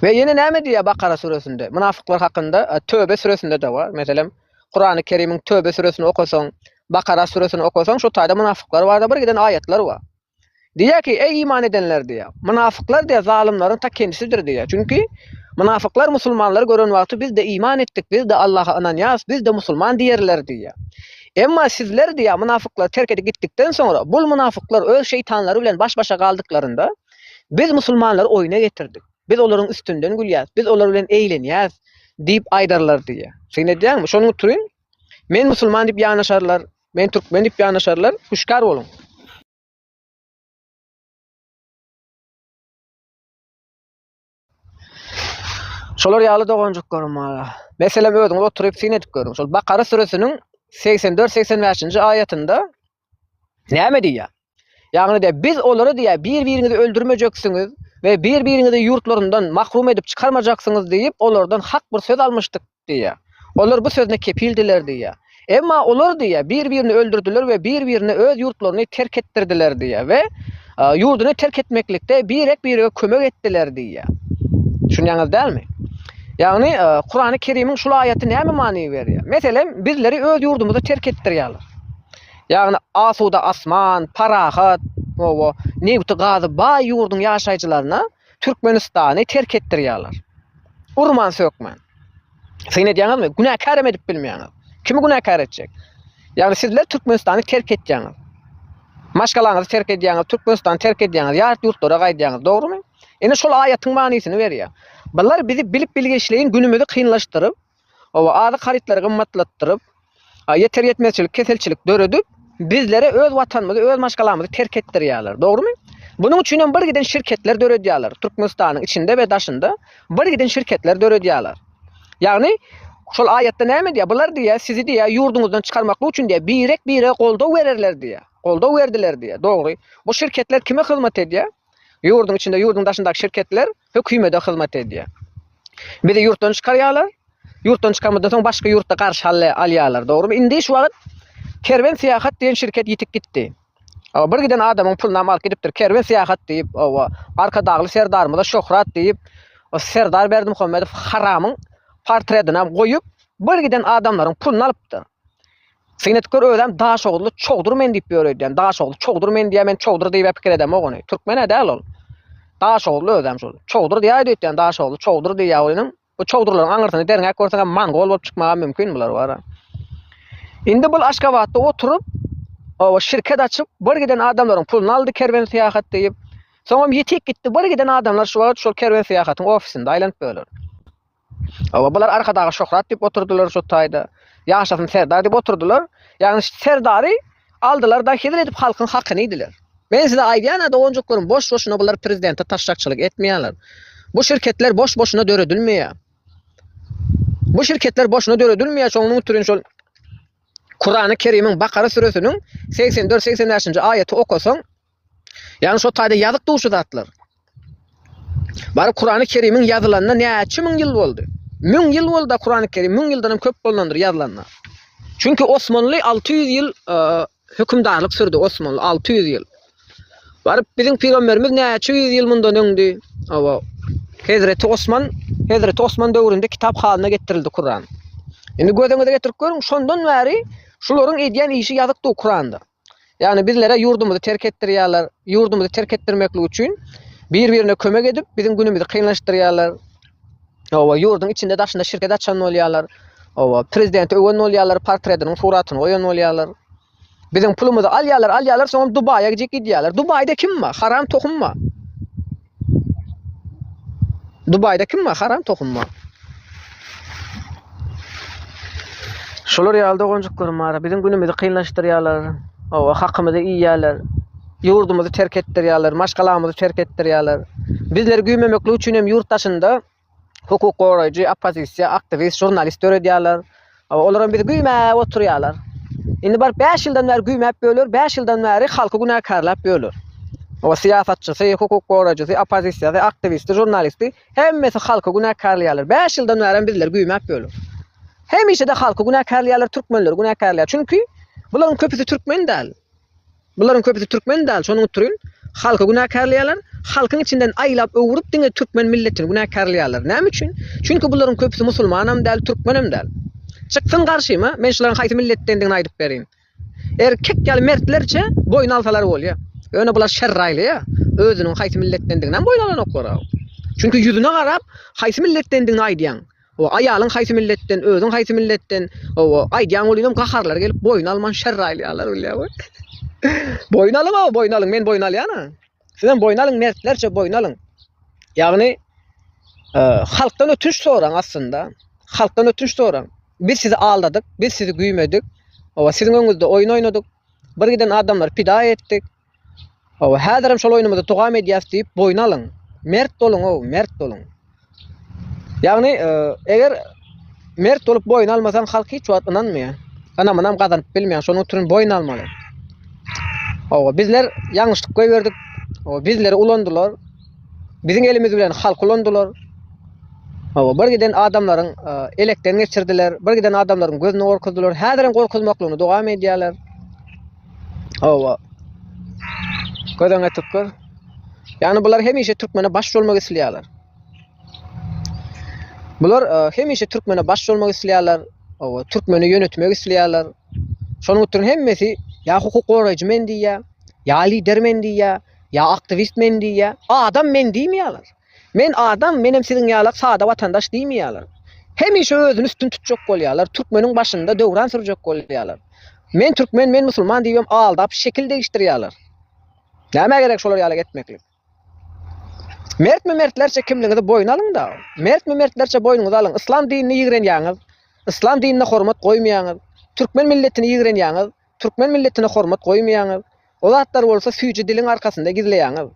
We ýene näme diýýär Bakara süresinde? Mynafyklar hakynda Töbe süresinde-de bar. Meselem, Kurany Kerimiň Töbe süresini okasaň, Bakara süresini okasaň, şo taýda mynafyklar barada birgiden aýatlar bar. Diýýär ki, eý iman edenler diýýär. Mynafyklar diýýär, zalymlaryň ta kendisidir diýýär. Çünki mynafyklar musulmanlary gören wagty biz-de iman etdik, biz-de Allaha ynanýarys, biz-de musulman diýerler diýýär. Emma sizler diýýär, mynafyklary terk edip gitdikden soňra, bul mynafyklar öz şeýtanlary bilen baş-başa galdyklarynda, biz musulmanlary oýuna getirdik. Biz olaryň üstünden gülýäris, biz olar bilen eýlenýäris diýip aýdarlar diýýär. Syn edýäňmi? Şonuň üçin men musulman diýip ýanaşarlar, Men türkmen dip yanaşarlar. Hüşkar bolun. Şolar ýaly doganjyklaryň maňa. Meselem özüňiz oturyp syn edip görüň. Şol Bakara süresiniň 84-85-nji aýatynda näme diýýär? Ýagny de biz olara diýýär, bir-biriňizi öldürmejeksiňiz we bir-biriňizi ýurtlaryndan mahrum edip çykarmajaksyňyz diýip, olardan hak bir söz almyşdyk diýýär. Olar bu sözüne kepildiler diýýär. Emma olar diýýär, bir-birini öldürdiler we bir-birine öz ýurtlaryny terk etdirdiler diýýär we ýurduny terk etmeklikde birek-birege kömek etdiler diýýär. Düşünýäňiz dälmi? Ýagny Kurany Kerimiň şul aýaty näme many berýär? Meselem, bizleri öz ýurdumyzy terk etdirýärler. Ýagny asuda asman, parahat, owo, nebiti gazy baý ýurduň ýaşaýjylaryna Türkmenistany terk etdirýärler. Urman sökmän. Syn edýäňizmi? Günäkär hem edip bilmeýäňiz. Kimi günäkär etjek? Ýagny sizler Türkmenistany terk etýäňiz. Maşgalaňyzy terk edýäňiz, Türkmenistany terk edýäňiz, ýat ýurtlara gaýdýaňyz, dogrumy? Ine şol aýatyň manysyny berýär. Bular bizi bilip bilgeşleýin günümizi kynlaşdyryp, Hawa, azyk harytlary gymmatlatdyryp, ýeter-ýetmezçilik, keselçilik döredip, bizlere öz Watanymyzy, öz maşgalamyzy terk etdirýärler. Dogrumy? Bunuň üçin hem birgiden şirketler döredýärler. Türkmenistanyň içinde we daşynda birgiden şirketler döredýärler. Ýagny, şol aýatda näme diýýär? Bular diýýär, sizi diýýär, ýurduňyzdan çykarmaklyk üçin diýýär, birek-birege goldaw bererler diýýär. Goldaw berdiler diýýär. Dogry. Bu şirketler kime hyzmat edýär? Ýurduň içinde, ýurduň daşyndaky şirketler hökümede hyzmat edýär. Bizi ýurtdan çykarýarlar. Ýurtdan çykarmadan soň başga ýurtda garşy halle alýarlar. Dogrymy? Indi şu wagt Kerwen syýahat diýen şirket ýitip gitdi. Owa, bir giden adamyň pulunam alyp gidipdir. Kerwen syýahat diýip, owa, Arkadagly serdarymyza şöhrat diýip, o serdar Berdimuhamedow haramyň portretinam goýup, bir giden adamlaryň puluny alypdyr. Synetker özem Daşoguzly çowdur men diýip ýör öýdýän. Daşoguzly çowdur men diýýär, men çowdur diýibä pikir edemok ony. Türkmen-ä däl ol. Daşoguzly özem şol. Çowdur diýäýdi öýtýän Daşoguzly çowdur diýýär oýnuň. Bu çowdurlaryň aňyrsyny derňäp görseňem mongol bolup çykmagam mümkin bular bara. Indi bul Aşgabatda oturyp, oba şirket açyp, bir giden adamlaryň puluny aldy kerwen syýahat diýip. Soňam ýetik gitdi, bir giden adamlar şu wagt şol kerwen syýahatyň ofisinde aýlanyp ýörler. Hawa, bular Arkadaga şöhrat diýip oturdylar şu taýda. Ýaşasyn Serdar diýip oturdylar. Ýagny Serdary aldylar-da hezil edip halkyň hakyny iýdiler. Men size aýdýan-a doganjyklarym, boş-boşuna bular prezidente taşşakçylyk etmeýärler. Bu şirketler boş-boşuna döredilmeýär. Bu şirketler boşuna döredilmeýär, şonuň üçin şol Kurany Kerimiň Bakara süresiniň segsen dört, segsen bäşinji aýaty okasaň, Ýagny şo taýda ýazyk duşy zatlar. Baryp Kurany Kerimiň ýazylanyna näçe müň ýyl boldy? Müň ýyl boldy-a Kurany Kerim, müň ýyldanam köp bolnandyr ýazylanyna. Çünki Osmanly alty ýüz ýyl hökümdarlyk sürdi, Osmanly alty ýüz ýyl. Baryp biziň pygamberimiz näçe ýüz ýyl mundan öňdi? Hawa. Hezreti Osman, Hezreti Osman döwründe kitap halyna getirildi Kuran. Indi gözüňize getirip görüň, şondan bäri şularyň edýän işi ýazyk du Kuranda. Ýagny bizlere ýurdumyzy terk etdirýärler. Ýurdumyzy terk etdirmeklik üçin bir-birine kömek edip, biziň günümizi kynlaşdyrýarlar. Oba, ýurduň içinde daşynda şirket açan bolýarlar. Oba, prezidenti öwen bolýarlar, portretiniň suratyny goýan bolýarlar. Biziň pulumyzy alýarlar, alýarlar, soňam Dubaýa gidip gidýärler. Dubaýda kim bar? Haram tohum bar. Dubaýda kim bar? Haram tohum bar. Şolar ýaly doganjyklarym bar. Biziň günümizi kynlaşdyrýarlar. Owa, hakymyzy iýýärler. Ýurdumyzy terk etdirýärler, maşgalamyzy terk etdirýärler. Bizleri güýmemeklik üçin hem ýurt daşynda hukuk goraýjy, oppozisiýa, aktiwist, žurnalist döredýärler. Olaram bizi güýmäp oturýarlar. Indi baryp 5 ýyldan bäri güýmäp ýörler, 5 ýyldan bäri halky günäkärläp ýörler. O syýasatçysy, hukuk goraýjysy, oppozisiýasy, aktiwisti, žurnalisti hemmesi halky günäkärleýärler. 5 ýyldan bäri bizler güýmäp ýörler. Hemişe-de halky günäkärleýärler, türkmenleri günäkärleýär. Çünki bularyň köpüsi türkmen däl. Bularyň köpüsi türkmen däl, şonuň utrun halky günäkärleýärler, halkyň içinden aýlap öwrüp diňe türkmen milletini günäkärleýärler. Näme üçin? Çünki bularyň köpüsi musulmanam däl, türkmenem däl. Çyksyn garşyma, men şularyň haýsy milletdendigini aýdyp berin. Erkek ýaly mertlerçe boýun alsalar bolýa. Ýöne bular şerri aýlaýa, özüniň haýsy milletdendiginem boýun alanoklar-a. Çünki ýüzüne garap, haýsy milletdendigini aýdýaň. Hawa, aýalyň haýsy milletden, özüň haýsy milletden, hawa, aýdýaň welinem gaharlary gelip boýun alman şerr aýlaýarlar bilýäň we boýun alyň hawa, boýun alyň, men boýun alýan-a. Sizem boýun alyň, mertlerçe boýun alyň. Ýagny e, halkdan ötünç soraň aslynda. Halkdan ötünç soraň. Biz sizi aldadyk, biz sizi güýmedik. Hawa, siziň öňüňizde oýun oýnadyk. Bir giden adamlar pida etdik. Hawa, häzirem şol oýnumyzy dowam edýäs diýip boýun alyň. Mert boluň-ow, mert boluň. Ýagny, eger mert bolup boýun almasaň, halk hiç wagt ynanmaýar. Ynamynam gazanyp bilmeýär. Şonuň üçin boýun almaly. Hawa, bizler ýalňyşlyk goýberdik. Hawa, bizleri ulandylar. Biziň elimiz bilen halk ulandylar. Hawa, bir giden adamlaryň e, elekden geçirdiler, bir giden adamlaryň gözüni gorkuzdylar. Häzirem gorkuzmaklygyny dowam edýärler. Hawa. Gözüňe tükür. Yani bular hemişe Türkmene baş olmak isteýärler. Bular e, hemişe Türkmene baş olmak isteýärler. Hawa, Türkmeni yönetmek isteýärler. Şonuň üçin hemmesi ya hukuk goraýjy men diýýär, ya lider men diýýär, ya aktivist men diýýär. Adam men diýmeýärler. Men adam, menem siziň ýalak sada watandaş diýmeýärler. Hemişe özüni üstün tutjak bolýarlar, türkmeniň başynda döwran sürjek bolýarlar. Men türkmen, men musulman diýibem aldap, şekil degişdirýärler. Nämä gerek şolar ýaly etmeklik? Mertmi mertlerçe kimligiňizi boýun alyň-da. Mertmi mertlerçe boýnuňyzy alyň. Yslam dinini ýigrenýäňiz. Yslam dinine hormat goýmaýaňyz. Türkmen milletini ýigrenýäňiz. Türkmen milletine hormat goýmaýaňyz. O zatlary bolsa süýji diliň arkasynda gizleýäňiz.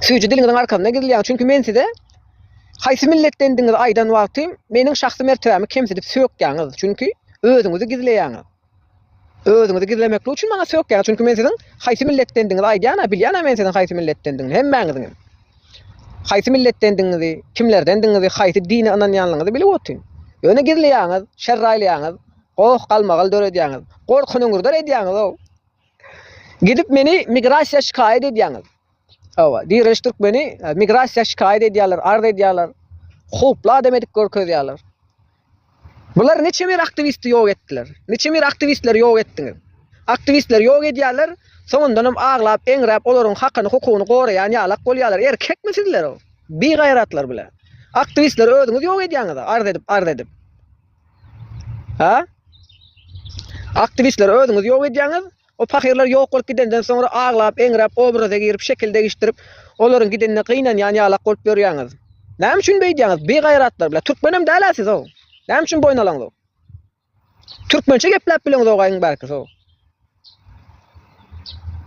Süýji diliňiziň arkasynda gizleýäňiz. Çünki men size haýsy milletdendigiňizi aýdan wagtym, meniň şahsy mertebämi kemsidip sökýäňiz. Çünki özüňizi gizleýäňiz. Özüňizi gizlemeklik üçin maňa sökýäňiz. Çünki men siziň haýsy milletdendigiňizi aýdýan-a, bilýän-a men siziň haýsy milletdendigiňizi, hemmäňiziň hem. Haýsy milletdendigiňizi, kimlerdendigiňizi, haýsy dine ynanýanlygyňyzy bilip otyryn. Ýöne gizleýäňiz, şerraýlaýaňyz. Goh galmagal döredýäňiz. Gorky nyňyrdar edýäňiz-ow. Gidip meni migrasiýa şikaýat edýäňiz. Hawa, Direliş Türkmeni migrasiýa şikaýat edýärler, arz edýärler. Howply adam edip görkezýärler. Bular niçe bir aktiwisti ýok etdiler. Niçe bir aktiwistleri ýok etdiňiz. Aktiwistleri ýok edýärler, soňundanam aglap, eňräp olaryň hakyny, hukugyny goraýan ýalak bolýarlar. Erkekmi sizler-ow? Bigaýratlar bile. Aktiwistleri özüňiz ýok edýäňiz-a, arz edip, arz edip. Ha? Aktiwistleri özüňiz ýok edýäňiz. O pahyrlar ýok bolup gidenden soňra aglap, eňräp, obraza girip, şekil degişdirip, olaryň gidenine gynanýan ýalak bolup ýörýäňiz. Näme üçin beýdýäňiz? Bigaýratlar, bile, türkmenem däl-ä siz-ow. Näme üçin boýun alaňyz-ow? Türkmençe gepläp bileňiz-ow gaýyň bärki-sow.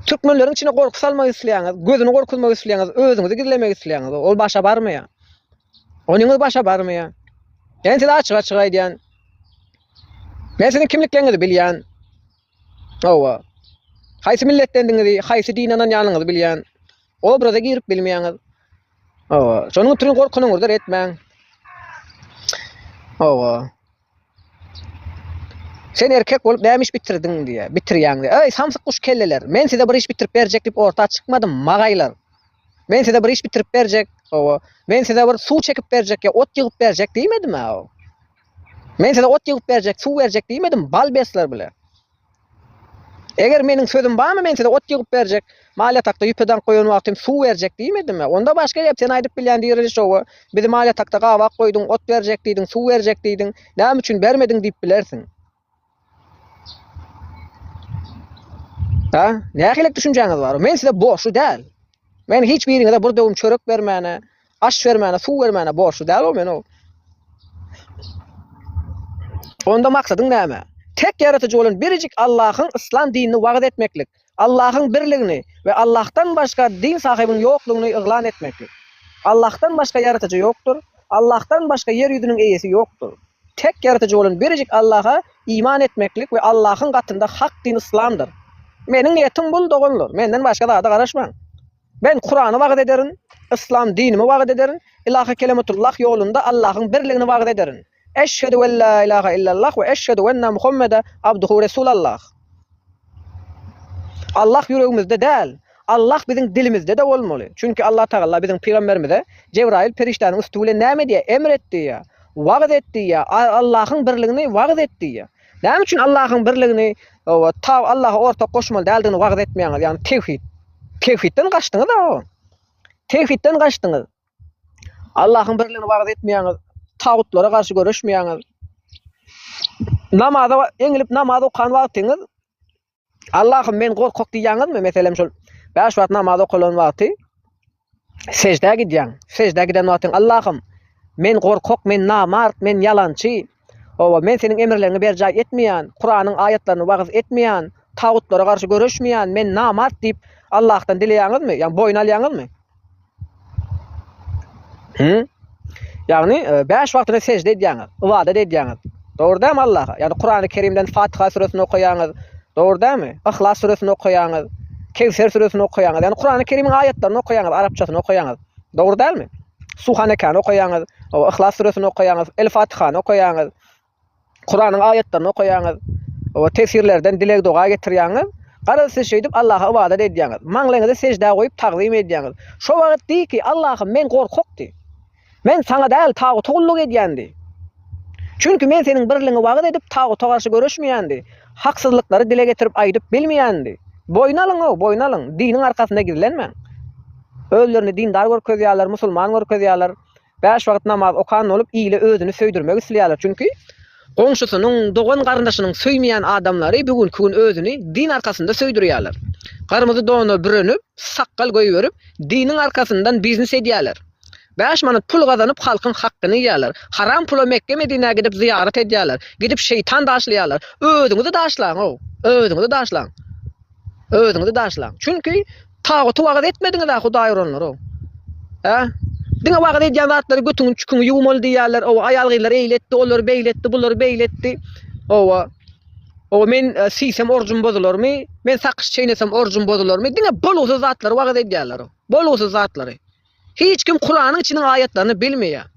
Türkmenleriň içine gorky salmak isleýäňiz, gözüni gorkuzmak isleýäňiz, özüňizi gizlemek isleýäňiz, ol başa barmaýar. Onyňyz başa barmaýar. Men size açyk-açyk aýdýan. Men siziň kimlikleriňizi bilýän. Hawa. Haýsy milletdendigiňizi, haýsy dine ynanýanyňyzy bilýän. Obraza girip bilmeýäňiz. Hawa. Şonuň üçin gorkunyňyzdyr etmäň. Hawa. Sen erkek bolup näme iş bitirdiň diýýär. Bitirýäň diýýär. Eý, samsyk guş kelleler, men size bir iş bitirip berjek diýip orta çykmadym, magaýlar. Men size bir iş bitirip berjek, hawa, men size bir suw çekip berjek ýa ot ýygyp berjek diýmedim-ä. Men size ot ýygyp berjek, suw berjek diýmedim, balbesler bile. Eger meniň sözüm barmy, men size ot ýygyp berjek, mal ýatakda ýüpe daňk goýan wagtym suw berjek diýmedimmi? Onda başga gep, sen aýdyp bilýän direliş oba, bizi mal ýatakda gabak goýduň, ot berjek diýdiň, suw berjek diýdiň, näme üçin bermediň diýip bilersiň. Hä? Nähilek düşünjäňiz bar? Men size borçly däl. Men hiç biriňize bir döwüm çörek bermäne, Aş bermäne, suw bermäne borçly däl-ow men ow. Onda maksadyň näme? Tek Ýaratyjy bolan birjik Allahyň yslam dinini wagyz etmeklik, Allahyň birligini we Allahdan başga din sahybynyň ýoklugyny yglan etmeklik. Allahdan başga Ýaratyjy ýokdur, Allahdan başga ýer ýüzüniň eýesi ýokdur. Tek Ýaratyjy bolan birjik Allaha iman etmeklik we Allahyň gatynda hak din yslamdyr. Meniň niýetim bul, doganlar, menden başga zada garaşmaň. Men Kurany wagyz ederin, yslam dinimi wagyz ederin, Ylahy Kelematullah ýolunda Allahyň birligini wagyz ederin. Eşhedü en la ilahe illallah we eşhedü enne Muhammede abduhu Resulallah. Allah ýüregimizde däl, Allah biziň dilimizde-de bolmaly. Çünki Allatagalla biziň pygamberimize Jebraýyl perişdäniň üsti bilen näme diýýär? Emr et diýýär, wagyz et diýýär, Allahyň birligini wagyz et diýýär. Näme üçin Allahyň birligini we ta Allaha ortak goşmaly däldigini wagyz etmeýäňiz? Ýagny tewhid. Tewhidden gaçdyňyz o. Tewhidden gaçdyňyz. Allahyň birligini wagyz etmeýäňiz. Tagutlara garşy göreşmeýäňiz. Namaza eňilip namaz okan wagtyňyz Allahym men gorkak diýýäňizmi? Meselem şol bäş wagt namaz okalan wagty sejdä gidýäň. Sejdä giden wagtyň Allahym men gorkak, men namart, men ýalançy. Owa men seniň emirleriňi berjaý etmeýän, Kuranyň aýatlaryny wagyz etmeýän, tagutlara garşy göreşmeýän, men namart diýip Allahdan dileýäňizmi? Ýa boýun alýaňyzmy? Hı? Ýagny e, bäş wagtyna sejde edýäňiz, ybadat edýäňiz. Dogry dämi Allaha? Ýagny Kurany Kerimden Fatiha süresini okaýaňyz. Dogry dämi? Yhlas süresini okaýaňyz. Kewser süresini okaýaňyz. Ýagny Kurany Kerimiň aýatlaryny okaýaňyz, arapçasyny okaýaňyz. Dogry dälmi? Suhanekany okaýaňyz, o Yhlas süresini okaýaňyz, El Fatihany okaýaňyz. Kuranyň aýatlaryny okaýaňyz we tefsirlerden dileg-doga getirýäňiz. Garaz, siz şeýdip Allaha ybadat edýäňiz. Maňlaýňyzy seždä goýup tagzym edýäňiz. Şo wagt diý ki, Allahym, men gorkak diý. Men Saňa däl, taguta gulluk edýän diý. Çünki men Seniň birligiňi wagyz edip, taguta garşy göreşmeýän diý. Haksyzlyklary dile getirip aýdyp bilmeýän diý. Boýun alyň-ow, boýun alyň. Diniň arkasynda gizlenmäň. Özlerini dindar görkezýärler, musulman görkezýärler. Bäş wagt namaz okan bolup, ile özüni söýdürmek isleýärler. Çünki goňşusynyň, dogan-garyndaşynyň söýmeýän adamlary bu günki gün özüni din arkasynda söýdürýärler. Gyrmyzy dona bürenip, sakgal goýberip, diniň arkasyndan biznes edýärler. Bäş manat pul gazanyp, halkyň hakgyny iýýärler. Haram pula Mekge-Medinä gidip zyýarat edýärler. Gidip şeýtan daşlaýarlar. Özüňizi daşlaň-ow! Özüňizi daşlaň! Özüňizi daşlaň! Çünki Taguty wagyz etmediňiz-ä Hudaý uranlar-ow. Hä? Diňe wagyz edýän zatlary götüňi çüküňi ýuwmaly diýýärler, owa aýal-gyzlar eýle etdi, olary beýle etdi, bulary beýle etdi. Owa. Owa men siýsem orjum bozularmy, men sakyş çeýnesem orjum bozularmy, diňe bolgusyz zatlary wagyz edýärler-ow. Bolgusyz zatlary. Hiç kim kuranyň içiniň aýatlaryny bilmeýär.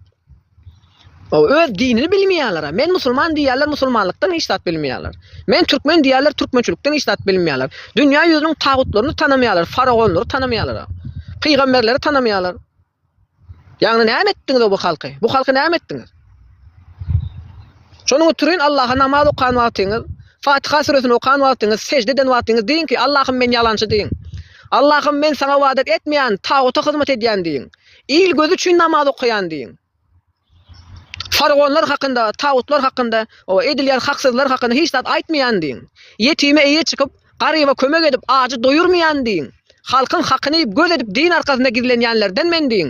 Ol öz dinini bilmeýärler. Men musulman diýýärler, musulmanlykdan hiç zat bilmeýärler. Men türkmen diýýärler, türkmençilikden hiç zat bilmeýärler. Dünýä ýüzüniň tagutlaryny tanamaýarlar, faraonlary tanamaýarlar. Pygamberleri tanamaýarlar. Ýagny näme etdiňiz bu halky? Bu halky näme etdiňiz? Şonuň üçin Allaha namaz okan wagtyňyz, Fatyha süresini okan wagtyňyz, sejde eden wagtyňyz diýiň ki, Allahym men ýalançy diýiň. Allahym men saňa ybadat etmeýän, taguta hyzmat edýän diýiň. Il gözi üçin namaz okaýan diýiň. Faragonlar hakynda, tagutlar hakynda, o edilýän haksyzlar hakynda hiç zat aýtmaýan diýiň. Ýetime eýe çykyp, garyba kömek edip, ajy doýurmaýan diýiň. Halkyň hakyny göz edip din arkasynda gizlenýänlerden men diýiň.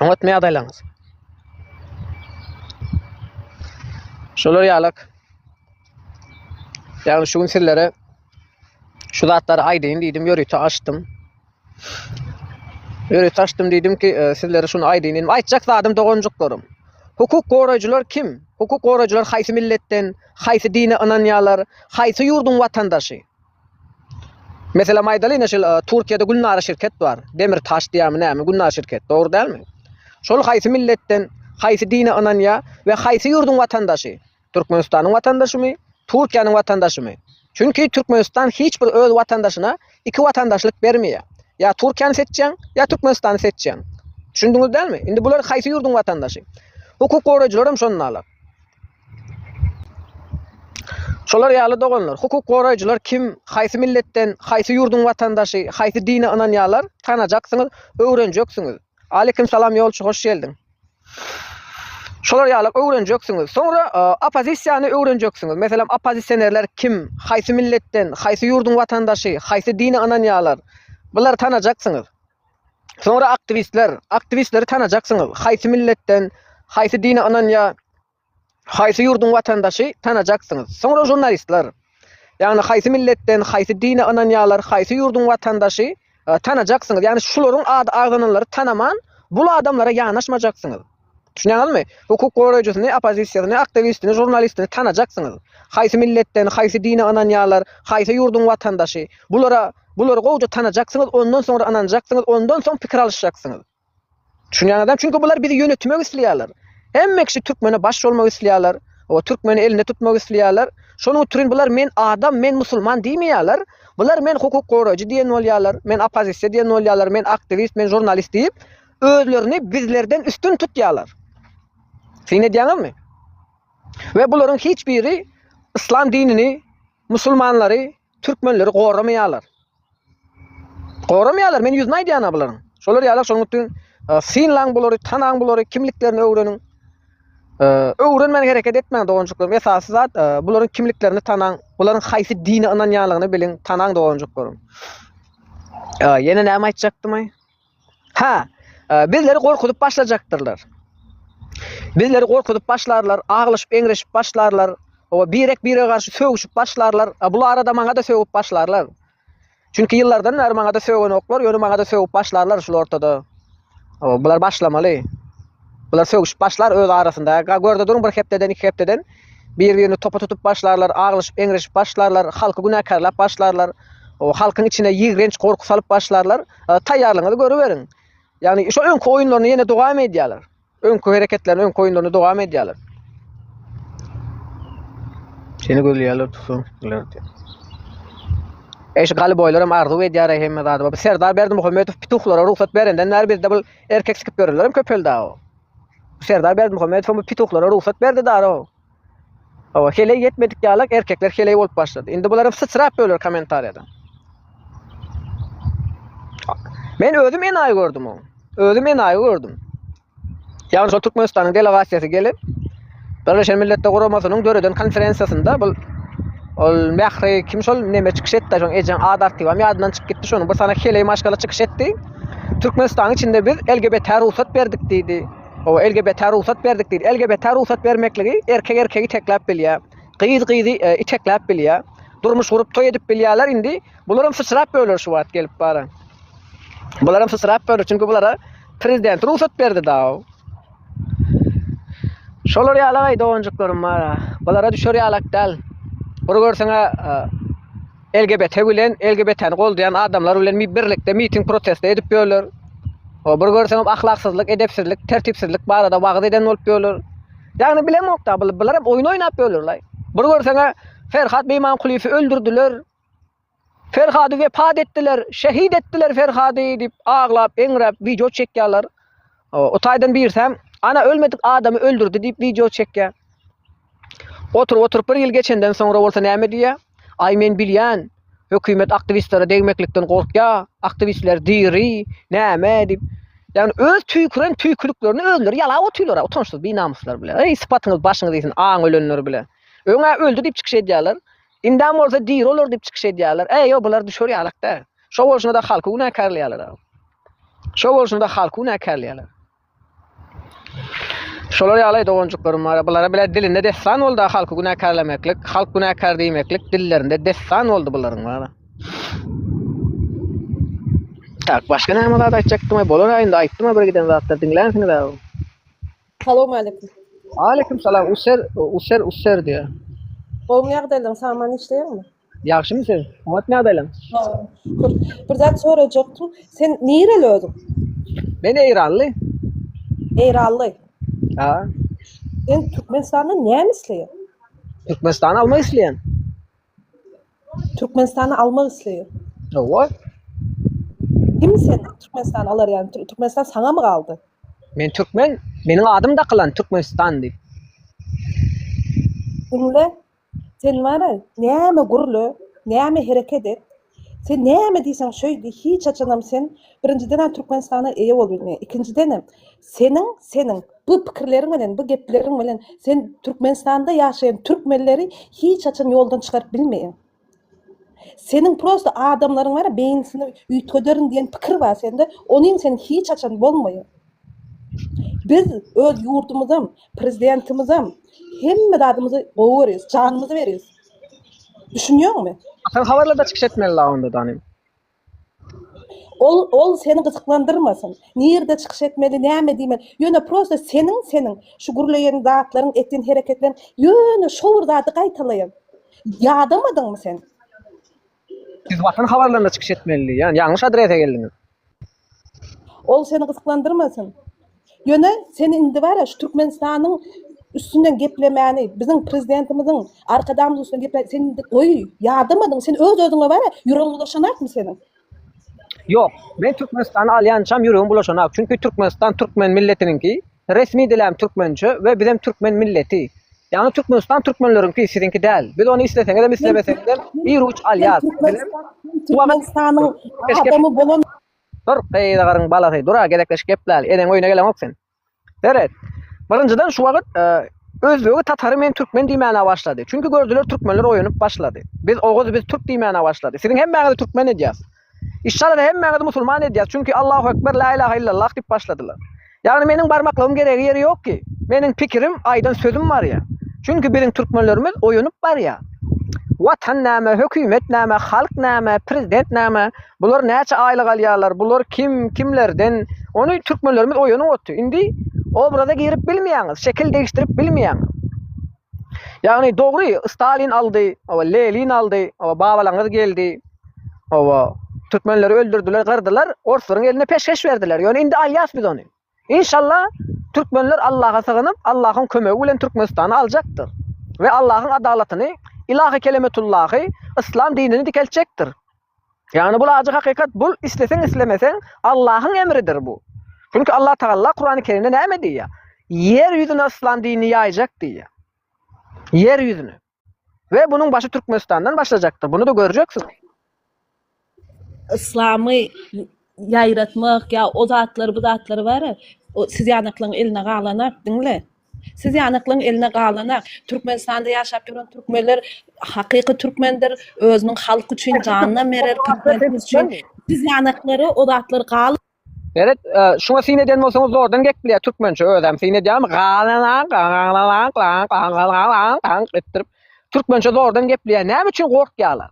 Oňatmy ýagdaýlaryňyz? Şolar ýalak. Ýagny şu gün sizlere şu zatlary aýdaýyn diýdim, ýörite açdym. Ýörite açdym diýdim ki, e, sizlere şuny aýdaýyn diýdim. Aýtjak zadym doganjyklarym. Hukuk goraýjylar kim? Hukuk goraýjylar haýsy milletden, haýsy dine ynanýarlar, haýsy ýurduň watandaşy? Meselem aýdalyň ine şol Turkiýede Gülnara şirket bar. Demir taş diýämi nämi Gülnara şirket dogry dälmi? Şol haýsy milletden, haýsy dine ynanýa we haýsy ýurduň watandaşy? Türkmenistanyň watandaşymy? Turkiýanyň watandaşymy? Çünki Türkmenistan hiç bir öz watandaşyna iki watandaşlyk bermeýä. Ýa Turkiýany seçýäň, ýa Türkmenistany seçýäň. Düşündiňiz dälmi? Indi bular haýsy ýurduň watandaşy? Hukuk goraýjylaram şondalar. Şolar ýaly doganlar, hukuk goraýjylar kim, haýsy milletden, haýsy ýurduň watandaşy, haýsy dine ynanýarlar, tanajaksyňyz, öwrenjeksiňiz. Aleýkim salam ýolçy hoş geldiň. Şolar ýaly öwrenjeksiňiz. Soňra oppozisiýany öwrenjeksiňiz. Meselem oppozisionerler kim, haýsy milletden, haýsy ýurduň watandaşy, haýsy dine ynanýarlar. Bulary tanajaksyňyz. Soňra aktiwistler, aktiwistleri tanajaksyňyz, haýsy milletden, haýsy dine ynanýar, haýsy ýurduň watandaşy tanajaksyňyz. Soňra žurnalistler, ýagny haýsy milletden, haýsy dine ynanýarlar, haýsy ýurduň watandaşy tanajaksyňyz, ýagny şularyň ady agzananlary tanaman bul adamlara ýanaşmajaksyňyz. Düşünýäňizmi? Hukuk goraýjysyny, oppozisiýasyny, aktiwistini, žurnalistini tanajaksyňyz. Haýsy milletden, haýsy dine ynanýarlar, haýsy ýurduň watandaşy. Bulara, bulary gowja tanajaksyňyz, ondan soňra ynanjaksyňyz, ondan soň pikir alyşjaksyňyz. Düşünýäňizem? Çünki bular bizi ýönetemek isleýärler. Hemme kişi türkmene baş bolmak isleýärler. Oba türkmeni elinde tutmak isleýärler. Şonuň utrin bular men adam, men musulman diýmeýärler. Bular men hukuk goraýjy diýen bolýarlar, men oppozisiýa diýen bolýarlar, men aktiwist, men žurnalist diýip, özlerini bizlerden üstün tutýarlar. Syn edýäňizmi? Ve bularyň hiç biri islam dinini, musulmanlary, türkmenleri goramaýarlar. Goramaýarlar, men ýüzüne aýdýan-a bularyň. Şolar ýaly şonuň üçin e, synlaň bulary, tanaň bulary, kimliklerini öwreniň. E, öwrenmän hereket etmäň doganjyklarym. Esasy zat e, bularyň kimliklerini tanaň, bularyň haýsy dine ynanýanlygyny biliň, tanaň doganjyklarym. Ýene näme aýtjakdym? Hä, bizleri gorkuzyp başlajakdyrlar. Bizleri gorkuzyp başlarlar, aglyşyp-eňreşip başlarlar. Owa, birek-birege garşy sögüşip başlarlar. Bu arada maňa-da sögüp başlarlar. Çünki ýyllardan bäri maňa-da sögenoklar, ýöne maňa-da sögüp başlarlar şul ortada. Owa, bular başlamaly. Bular sögüşip başlar öz arasynda. Ga görde duruň bir hepdeden, iki hepdeden bir-birini topa tutup başlarlar, aglyşyp, eňreşip başlarlar, halky günäkärläp başlarlar. O halkyň içine ýigrenç gorky salyp başlarlar. E, Taýýarlygyňyzy görüberiň. Ýagny şo öňki oýunlaryny ýene dowam edýärler. Öňki hereketlerini, öňki oýunlaryny dowam edýärler. Seni gözleýärler tutsun. Eş galy boýlaram arzuw edýär hemme zady. Bu Serdar Berdimuhamedow pituhlara rugsat berenden bäri bizde bu Erkek sikip ýörenlerem köpeldi-ä o. Serdar Berdimuhamedowam bu pituhlara rugsat berdi dara o. Hawa, heleý ýetmedik ýalak erkekler heleý bolup başlady. Indi bularam syçrap öler kommentariýada. Men özüm enaýy gördüm o. Özüm enaýy gördüm. Ýagny şol Türkmenistanyň delegasiýasy gelip, Birleşen Milletler Guramasynyň döreden konferensiýasynda bul ol Mähri kim şol neme çykyş etdi şoň ejeň ad artibam ýadyndan çykyp gitdi şonuň bir sana heleý maşgala çykyş etdi. Türkmenistanyň içinde biz LGBT rugsat berdik diýdi. Owa LGBT rugsat berdik diýdi. LGBT rugsat bermekligi erkek erkegi itekläp bilýär. Gyz gyzy e, itekläp bilýär. Durmuş gurup toý edip bilýärler indi. Bularam syçrap böler şu wagt gelip bara. Bularam syçrap böler çünki bulara prezident rugsat berdi daw. Şolar ýalagy doganjyklarym bar. Bulara düşer ýalak däl. Bir görseňe e, LGBT bilen LGBT-ni goldaýan adamlar bilen birlikde miting protest edip ýörler. O bir görseňem ahlaksyzlyk, edepsizlik, tertipsizlik barada wagyz eden bolup ýörler. Ýagny bilemokda bular, bular hem oýun oýnap ýörler. Bir görseňe Ferhat Beýmankulyýewi öldürdiler. Ferhady wepat etdiler, şehit etdiler Ferhady diýip aglap, eňräp wideo çekýärler. O taýdan birsäm, ana ölmedik adamy öldürdi diýip wideo çekýär. Oturyp oturyp bir ýyl geçenden soňra bolsa näme diýýär? Aý men bilýän, hökümet aktiwistlere degmeklikden gorkýar, aktiwistler diri, näme diýip. Ýagny öz tüýküren tüýküliklerini özleri ýalap otyrlar, utançsyz binamyslar bile. Eý sypatyňyz başyňyz iýsin aň ölenler bile. Öňä öldi diýip çykyş edýärler. Indem bolsa diri olar diýip çykyş edýärler. Äý, ýok, bular düşer ýalak däl. Şo bolşuna-da halky günäkärleýärler. Şo bolşuna-da halky günäkärleýärler. Şolar ýaly doganjyklarym bar. Bulara bile dilinde dessan boldy halky günäkärlemeklik, halk günäkär diýmeklik dillerinde dessan boldy bularyň bar. Tak, başga näme zat aýtjakdym? Bolar indi aýtdym bir giden zatlar diňlänsiňiz. Salowmaleýkim. Aleýkim salam user user user diýýä. Gowmy ýagdaýlaň saman işleýäňmi? Ýagşymy siz? Oňatmy ýagdaýlaň? Salam. Şükür. Bir zat sorajakdym. Sen nireli özüň? Men eýranly. Eýranly. Ha. Sen Türkmenistanda näme isleýäň? Türkmenistany almak isleýän. Türkmenistany almak isleýär. Hawa. Kim sen Türkmenistany alar ýaly? Tür- Türkmenistan saňamy galdy? Men türkmen, meniň adym dakylan Türkmenistan diýip. Diňle. Sen bara näme gürle, näme hereket et, Sen näme diýseň şöýdi, hiç haçanam sen, birinjidenem Türkmenistana eýe bolup bilmeýäň, ikinjidenem seniň, seniň bu pikirleriň bilen, bu gepleriň bilen sen Türkmenistanda ýaşaýan türkmenleri hiç haçan ýoldan çykaryp bilmeýäň. Seniň prosta adamlaryň bar, beýnisini üýtgederin diýen pikir bar sende, onyň seniň hiç haçan bolmaýar. Biz öz ýurdumyzam, prezidentimizem hemme zadymyzy gowy görýäs, janymyzy berýäs. Düşünýäňmi? Sen habarlarda çykyş etmeli la onda danym. Ol ol seni gyzyklandyrmasyn. Nirde çykyş etmeli, näme diýmeli? Ýöne prosta seniň seniň şu gürleýän zatlaryň, etýän hereketleriň ýöne şo bir zady gaýtalaýan. Ýadamadyňmy sen? Siz watan habarlarynda çykyş etmeli diýýän. Ýalňyş adrese geldiňiz. Ol seni gyzyklandyrmasyn. Ýöne sen indi bara şu Türkmenistanyň üstünden geplemäni, biziň prezidentimiziň Arkadagymyzyň üstünden geplemäni sen indi goý, ýadamadyň. Sen öz özüňe bara ýüregiň bulaşanakmy seniň? Ýok. Men Türkmenistany alýançam ýüregim bulaşanak. Çünki Türkmenistan türkmen milletiniňki. Resmi diläm türkmençe we bizem türkmen milleti. Ýagny Türkmenistan türkmenleriňki siziňki däl. Biz ony isleseňizem islemeseňizem bir uç alýas. Bizem bu Türkmenistanyň adamy bolan. Dur, gyzagaryň balasy, dur-a gezekleşip gepläli, eneň öýüne geleňok sen. Seret. Birinjiden şu wagt özbegi tatary men türkmen diýmäne başlady. Çünki gördüler türkmenler oýanyp başlady. Biz oguz biz türk diýmäne başlady. Siziň hemmäňizi türkmen edýäs. Işşalada hemmäňizi musulman edýäs, çünki Allahu ekber, la ilaha illallah diýip başladylar. Ýagny meniň barmaklygym geregi ýeri ýok ki. Meniň pikirim, aýdan sözüm barýa. Çünki biziň türkmenlerimiz oýanyp barýa. Watan näme, hökümet näme, halk näme, prezident näme, bular näçe aýlyk alýarlar, bular kim, kimlerden, ony türkmenlerimiz oýanyp otdy. Indi obraza girip bilmeýäňiz, şekil degişdirip bilmeýäňiz. Ýagny dogry Stalin aldy, oba Lenin aldy, oba babalaňyz geldi. Oba türkmenleri öldürdiler, gyrdylar, orslaryň eline peşgeş berdiler. Ýöne indi alýas biz ony. Inşallah türkmenler Allaha sygynyp, Allahyň kömegi bilen Türkmenistany aljakdyr. We Allahyň adalatyny, ilahy kelemetullahy, yslam dinini dikeltjekdir. Ýagny bul ajy hakykat bul isleseň islemeseň Allahyň emridir bu. Çünki Allah Tagalla Kurany Kerimde näme diýýär? Ýer ýüzüne yslam dinini ýaýjak diýýär. Ýer ýüzüne. We bunuň başy Türkmenistandan başlajakdyr. Bunu da görjeksiň. Yslamy ýaýratmak ýa o zatlar bu zatlar bar ya o siz ýanaklaň eline galanap diňle. Siz ýanyklyň eline galanak, Türkmenistanda ýaşap ýören türkmenler hakyky türkmendir, özüniň halky üçin janynam berer, prezidentimiz üçin. Siz ýanyklara o zatlar gal. Meret, şuňa syn edýän bolsaňyz zordan gepleýär, türkmençe özem syn edýärmi, galanak, galalanak, lanak, galalanak, lanak etdirip, türkmençe zordan gepleýär. Näme üçin gorkýarlar?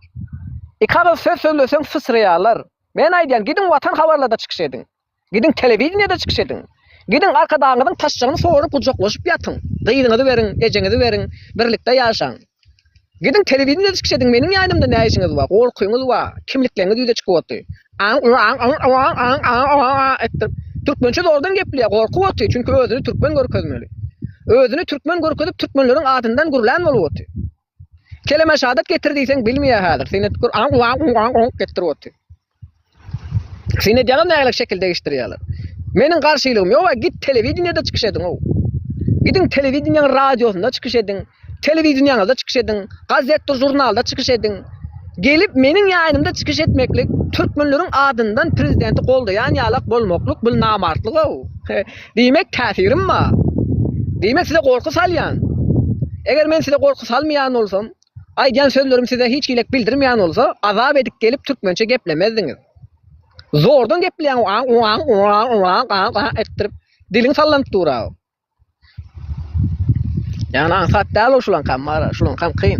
Iki agyz söz sözleseň syçraýarlar. Men aýdýan, gidiň Watan habarlarda çykyş ediň. Gidiň telewideniýede çykyş ediň. Gidiň arkadagyňyzyň taşjagyny sorup gujaklaşyp ýatyň. Gyzyňyzy beriň, ejeňizi beriň, birlikde ýaşaň. Gidiň telewideniýede çykyş ediň, meniň ýanymda nä işiňiz bar, gorkyňyz bar, kimlikleriňiz ýüze çykyp otdy. Etdirip, türkmençe zordan gepleýär, gorkup otdy, çünki özüni türkmen görkezmeli. Özüni türkmen görkezip türkmenleriň adyndan gürlän bolup otdy. Keleme şadat getir diýseň bilmeýär häzir. Seni etgur an an an an getirip otyr. Seni edýäňiz nägilek şekil degişdirýärler. Meniň garşylygym ýok, git telewideniýede çykyş ediň ow. Gidiň telewideniýäň radiosynda çykyş ediň, telewideniýäňizde çykyş ediň, gazetde, žurnalda çykyş ediň. Gelip meniň ýaýynymda çykyş etmeklik türkmenleriň adyndan prezidenti goldaýan ýalak bolmaklyk bu namartlyk ow. Diýmek, täsirim bar. Diýmek, size gorky salýan. Eger men size gorky salmaýan bolsam, aýdýan sözlerim size hiç gilek bildirmeýän bolsa, azap edip gelip türkmençe geplemezdiňiz. Zordan gepleýäň, aň-aň-aň-aň-aň-aň-aň-aň etdirip, diliň sallanyp dur-a. Ýagny aňsat däl ol şulankam, Mara, şulankam kyn.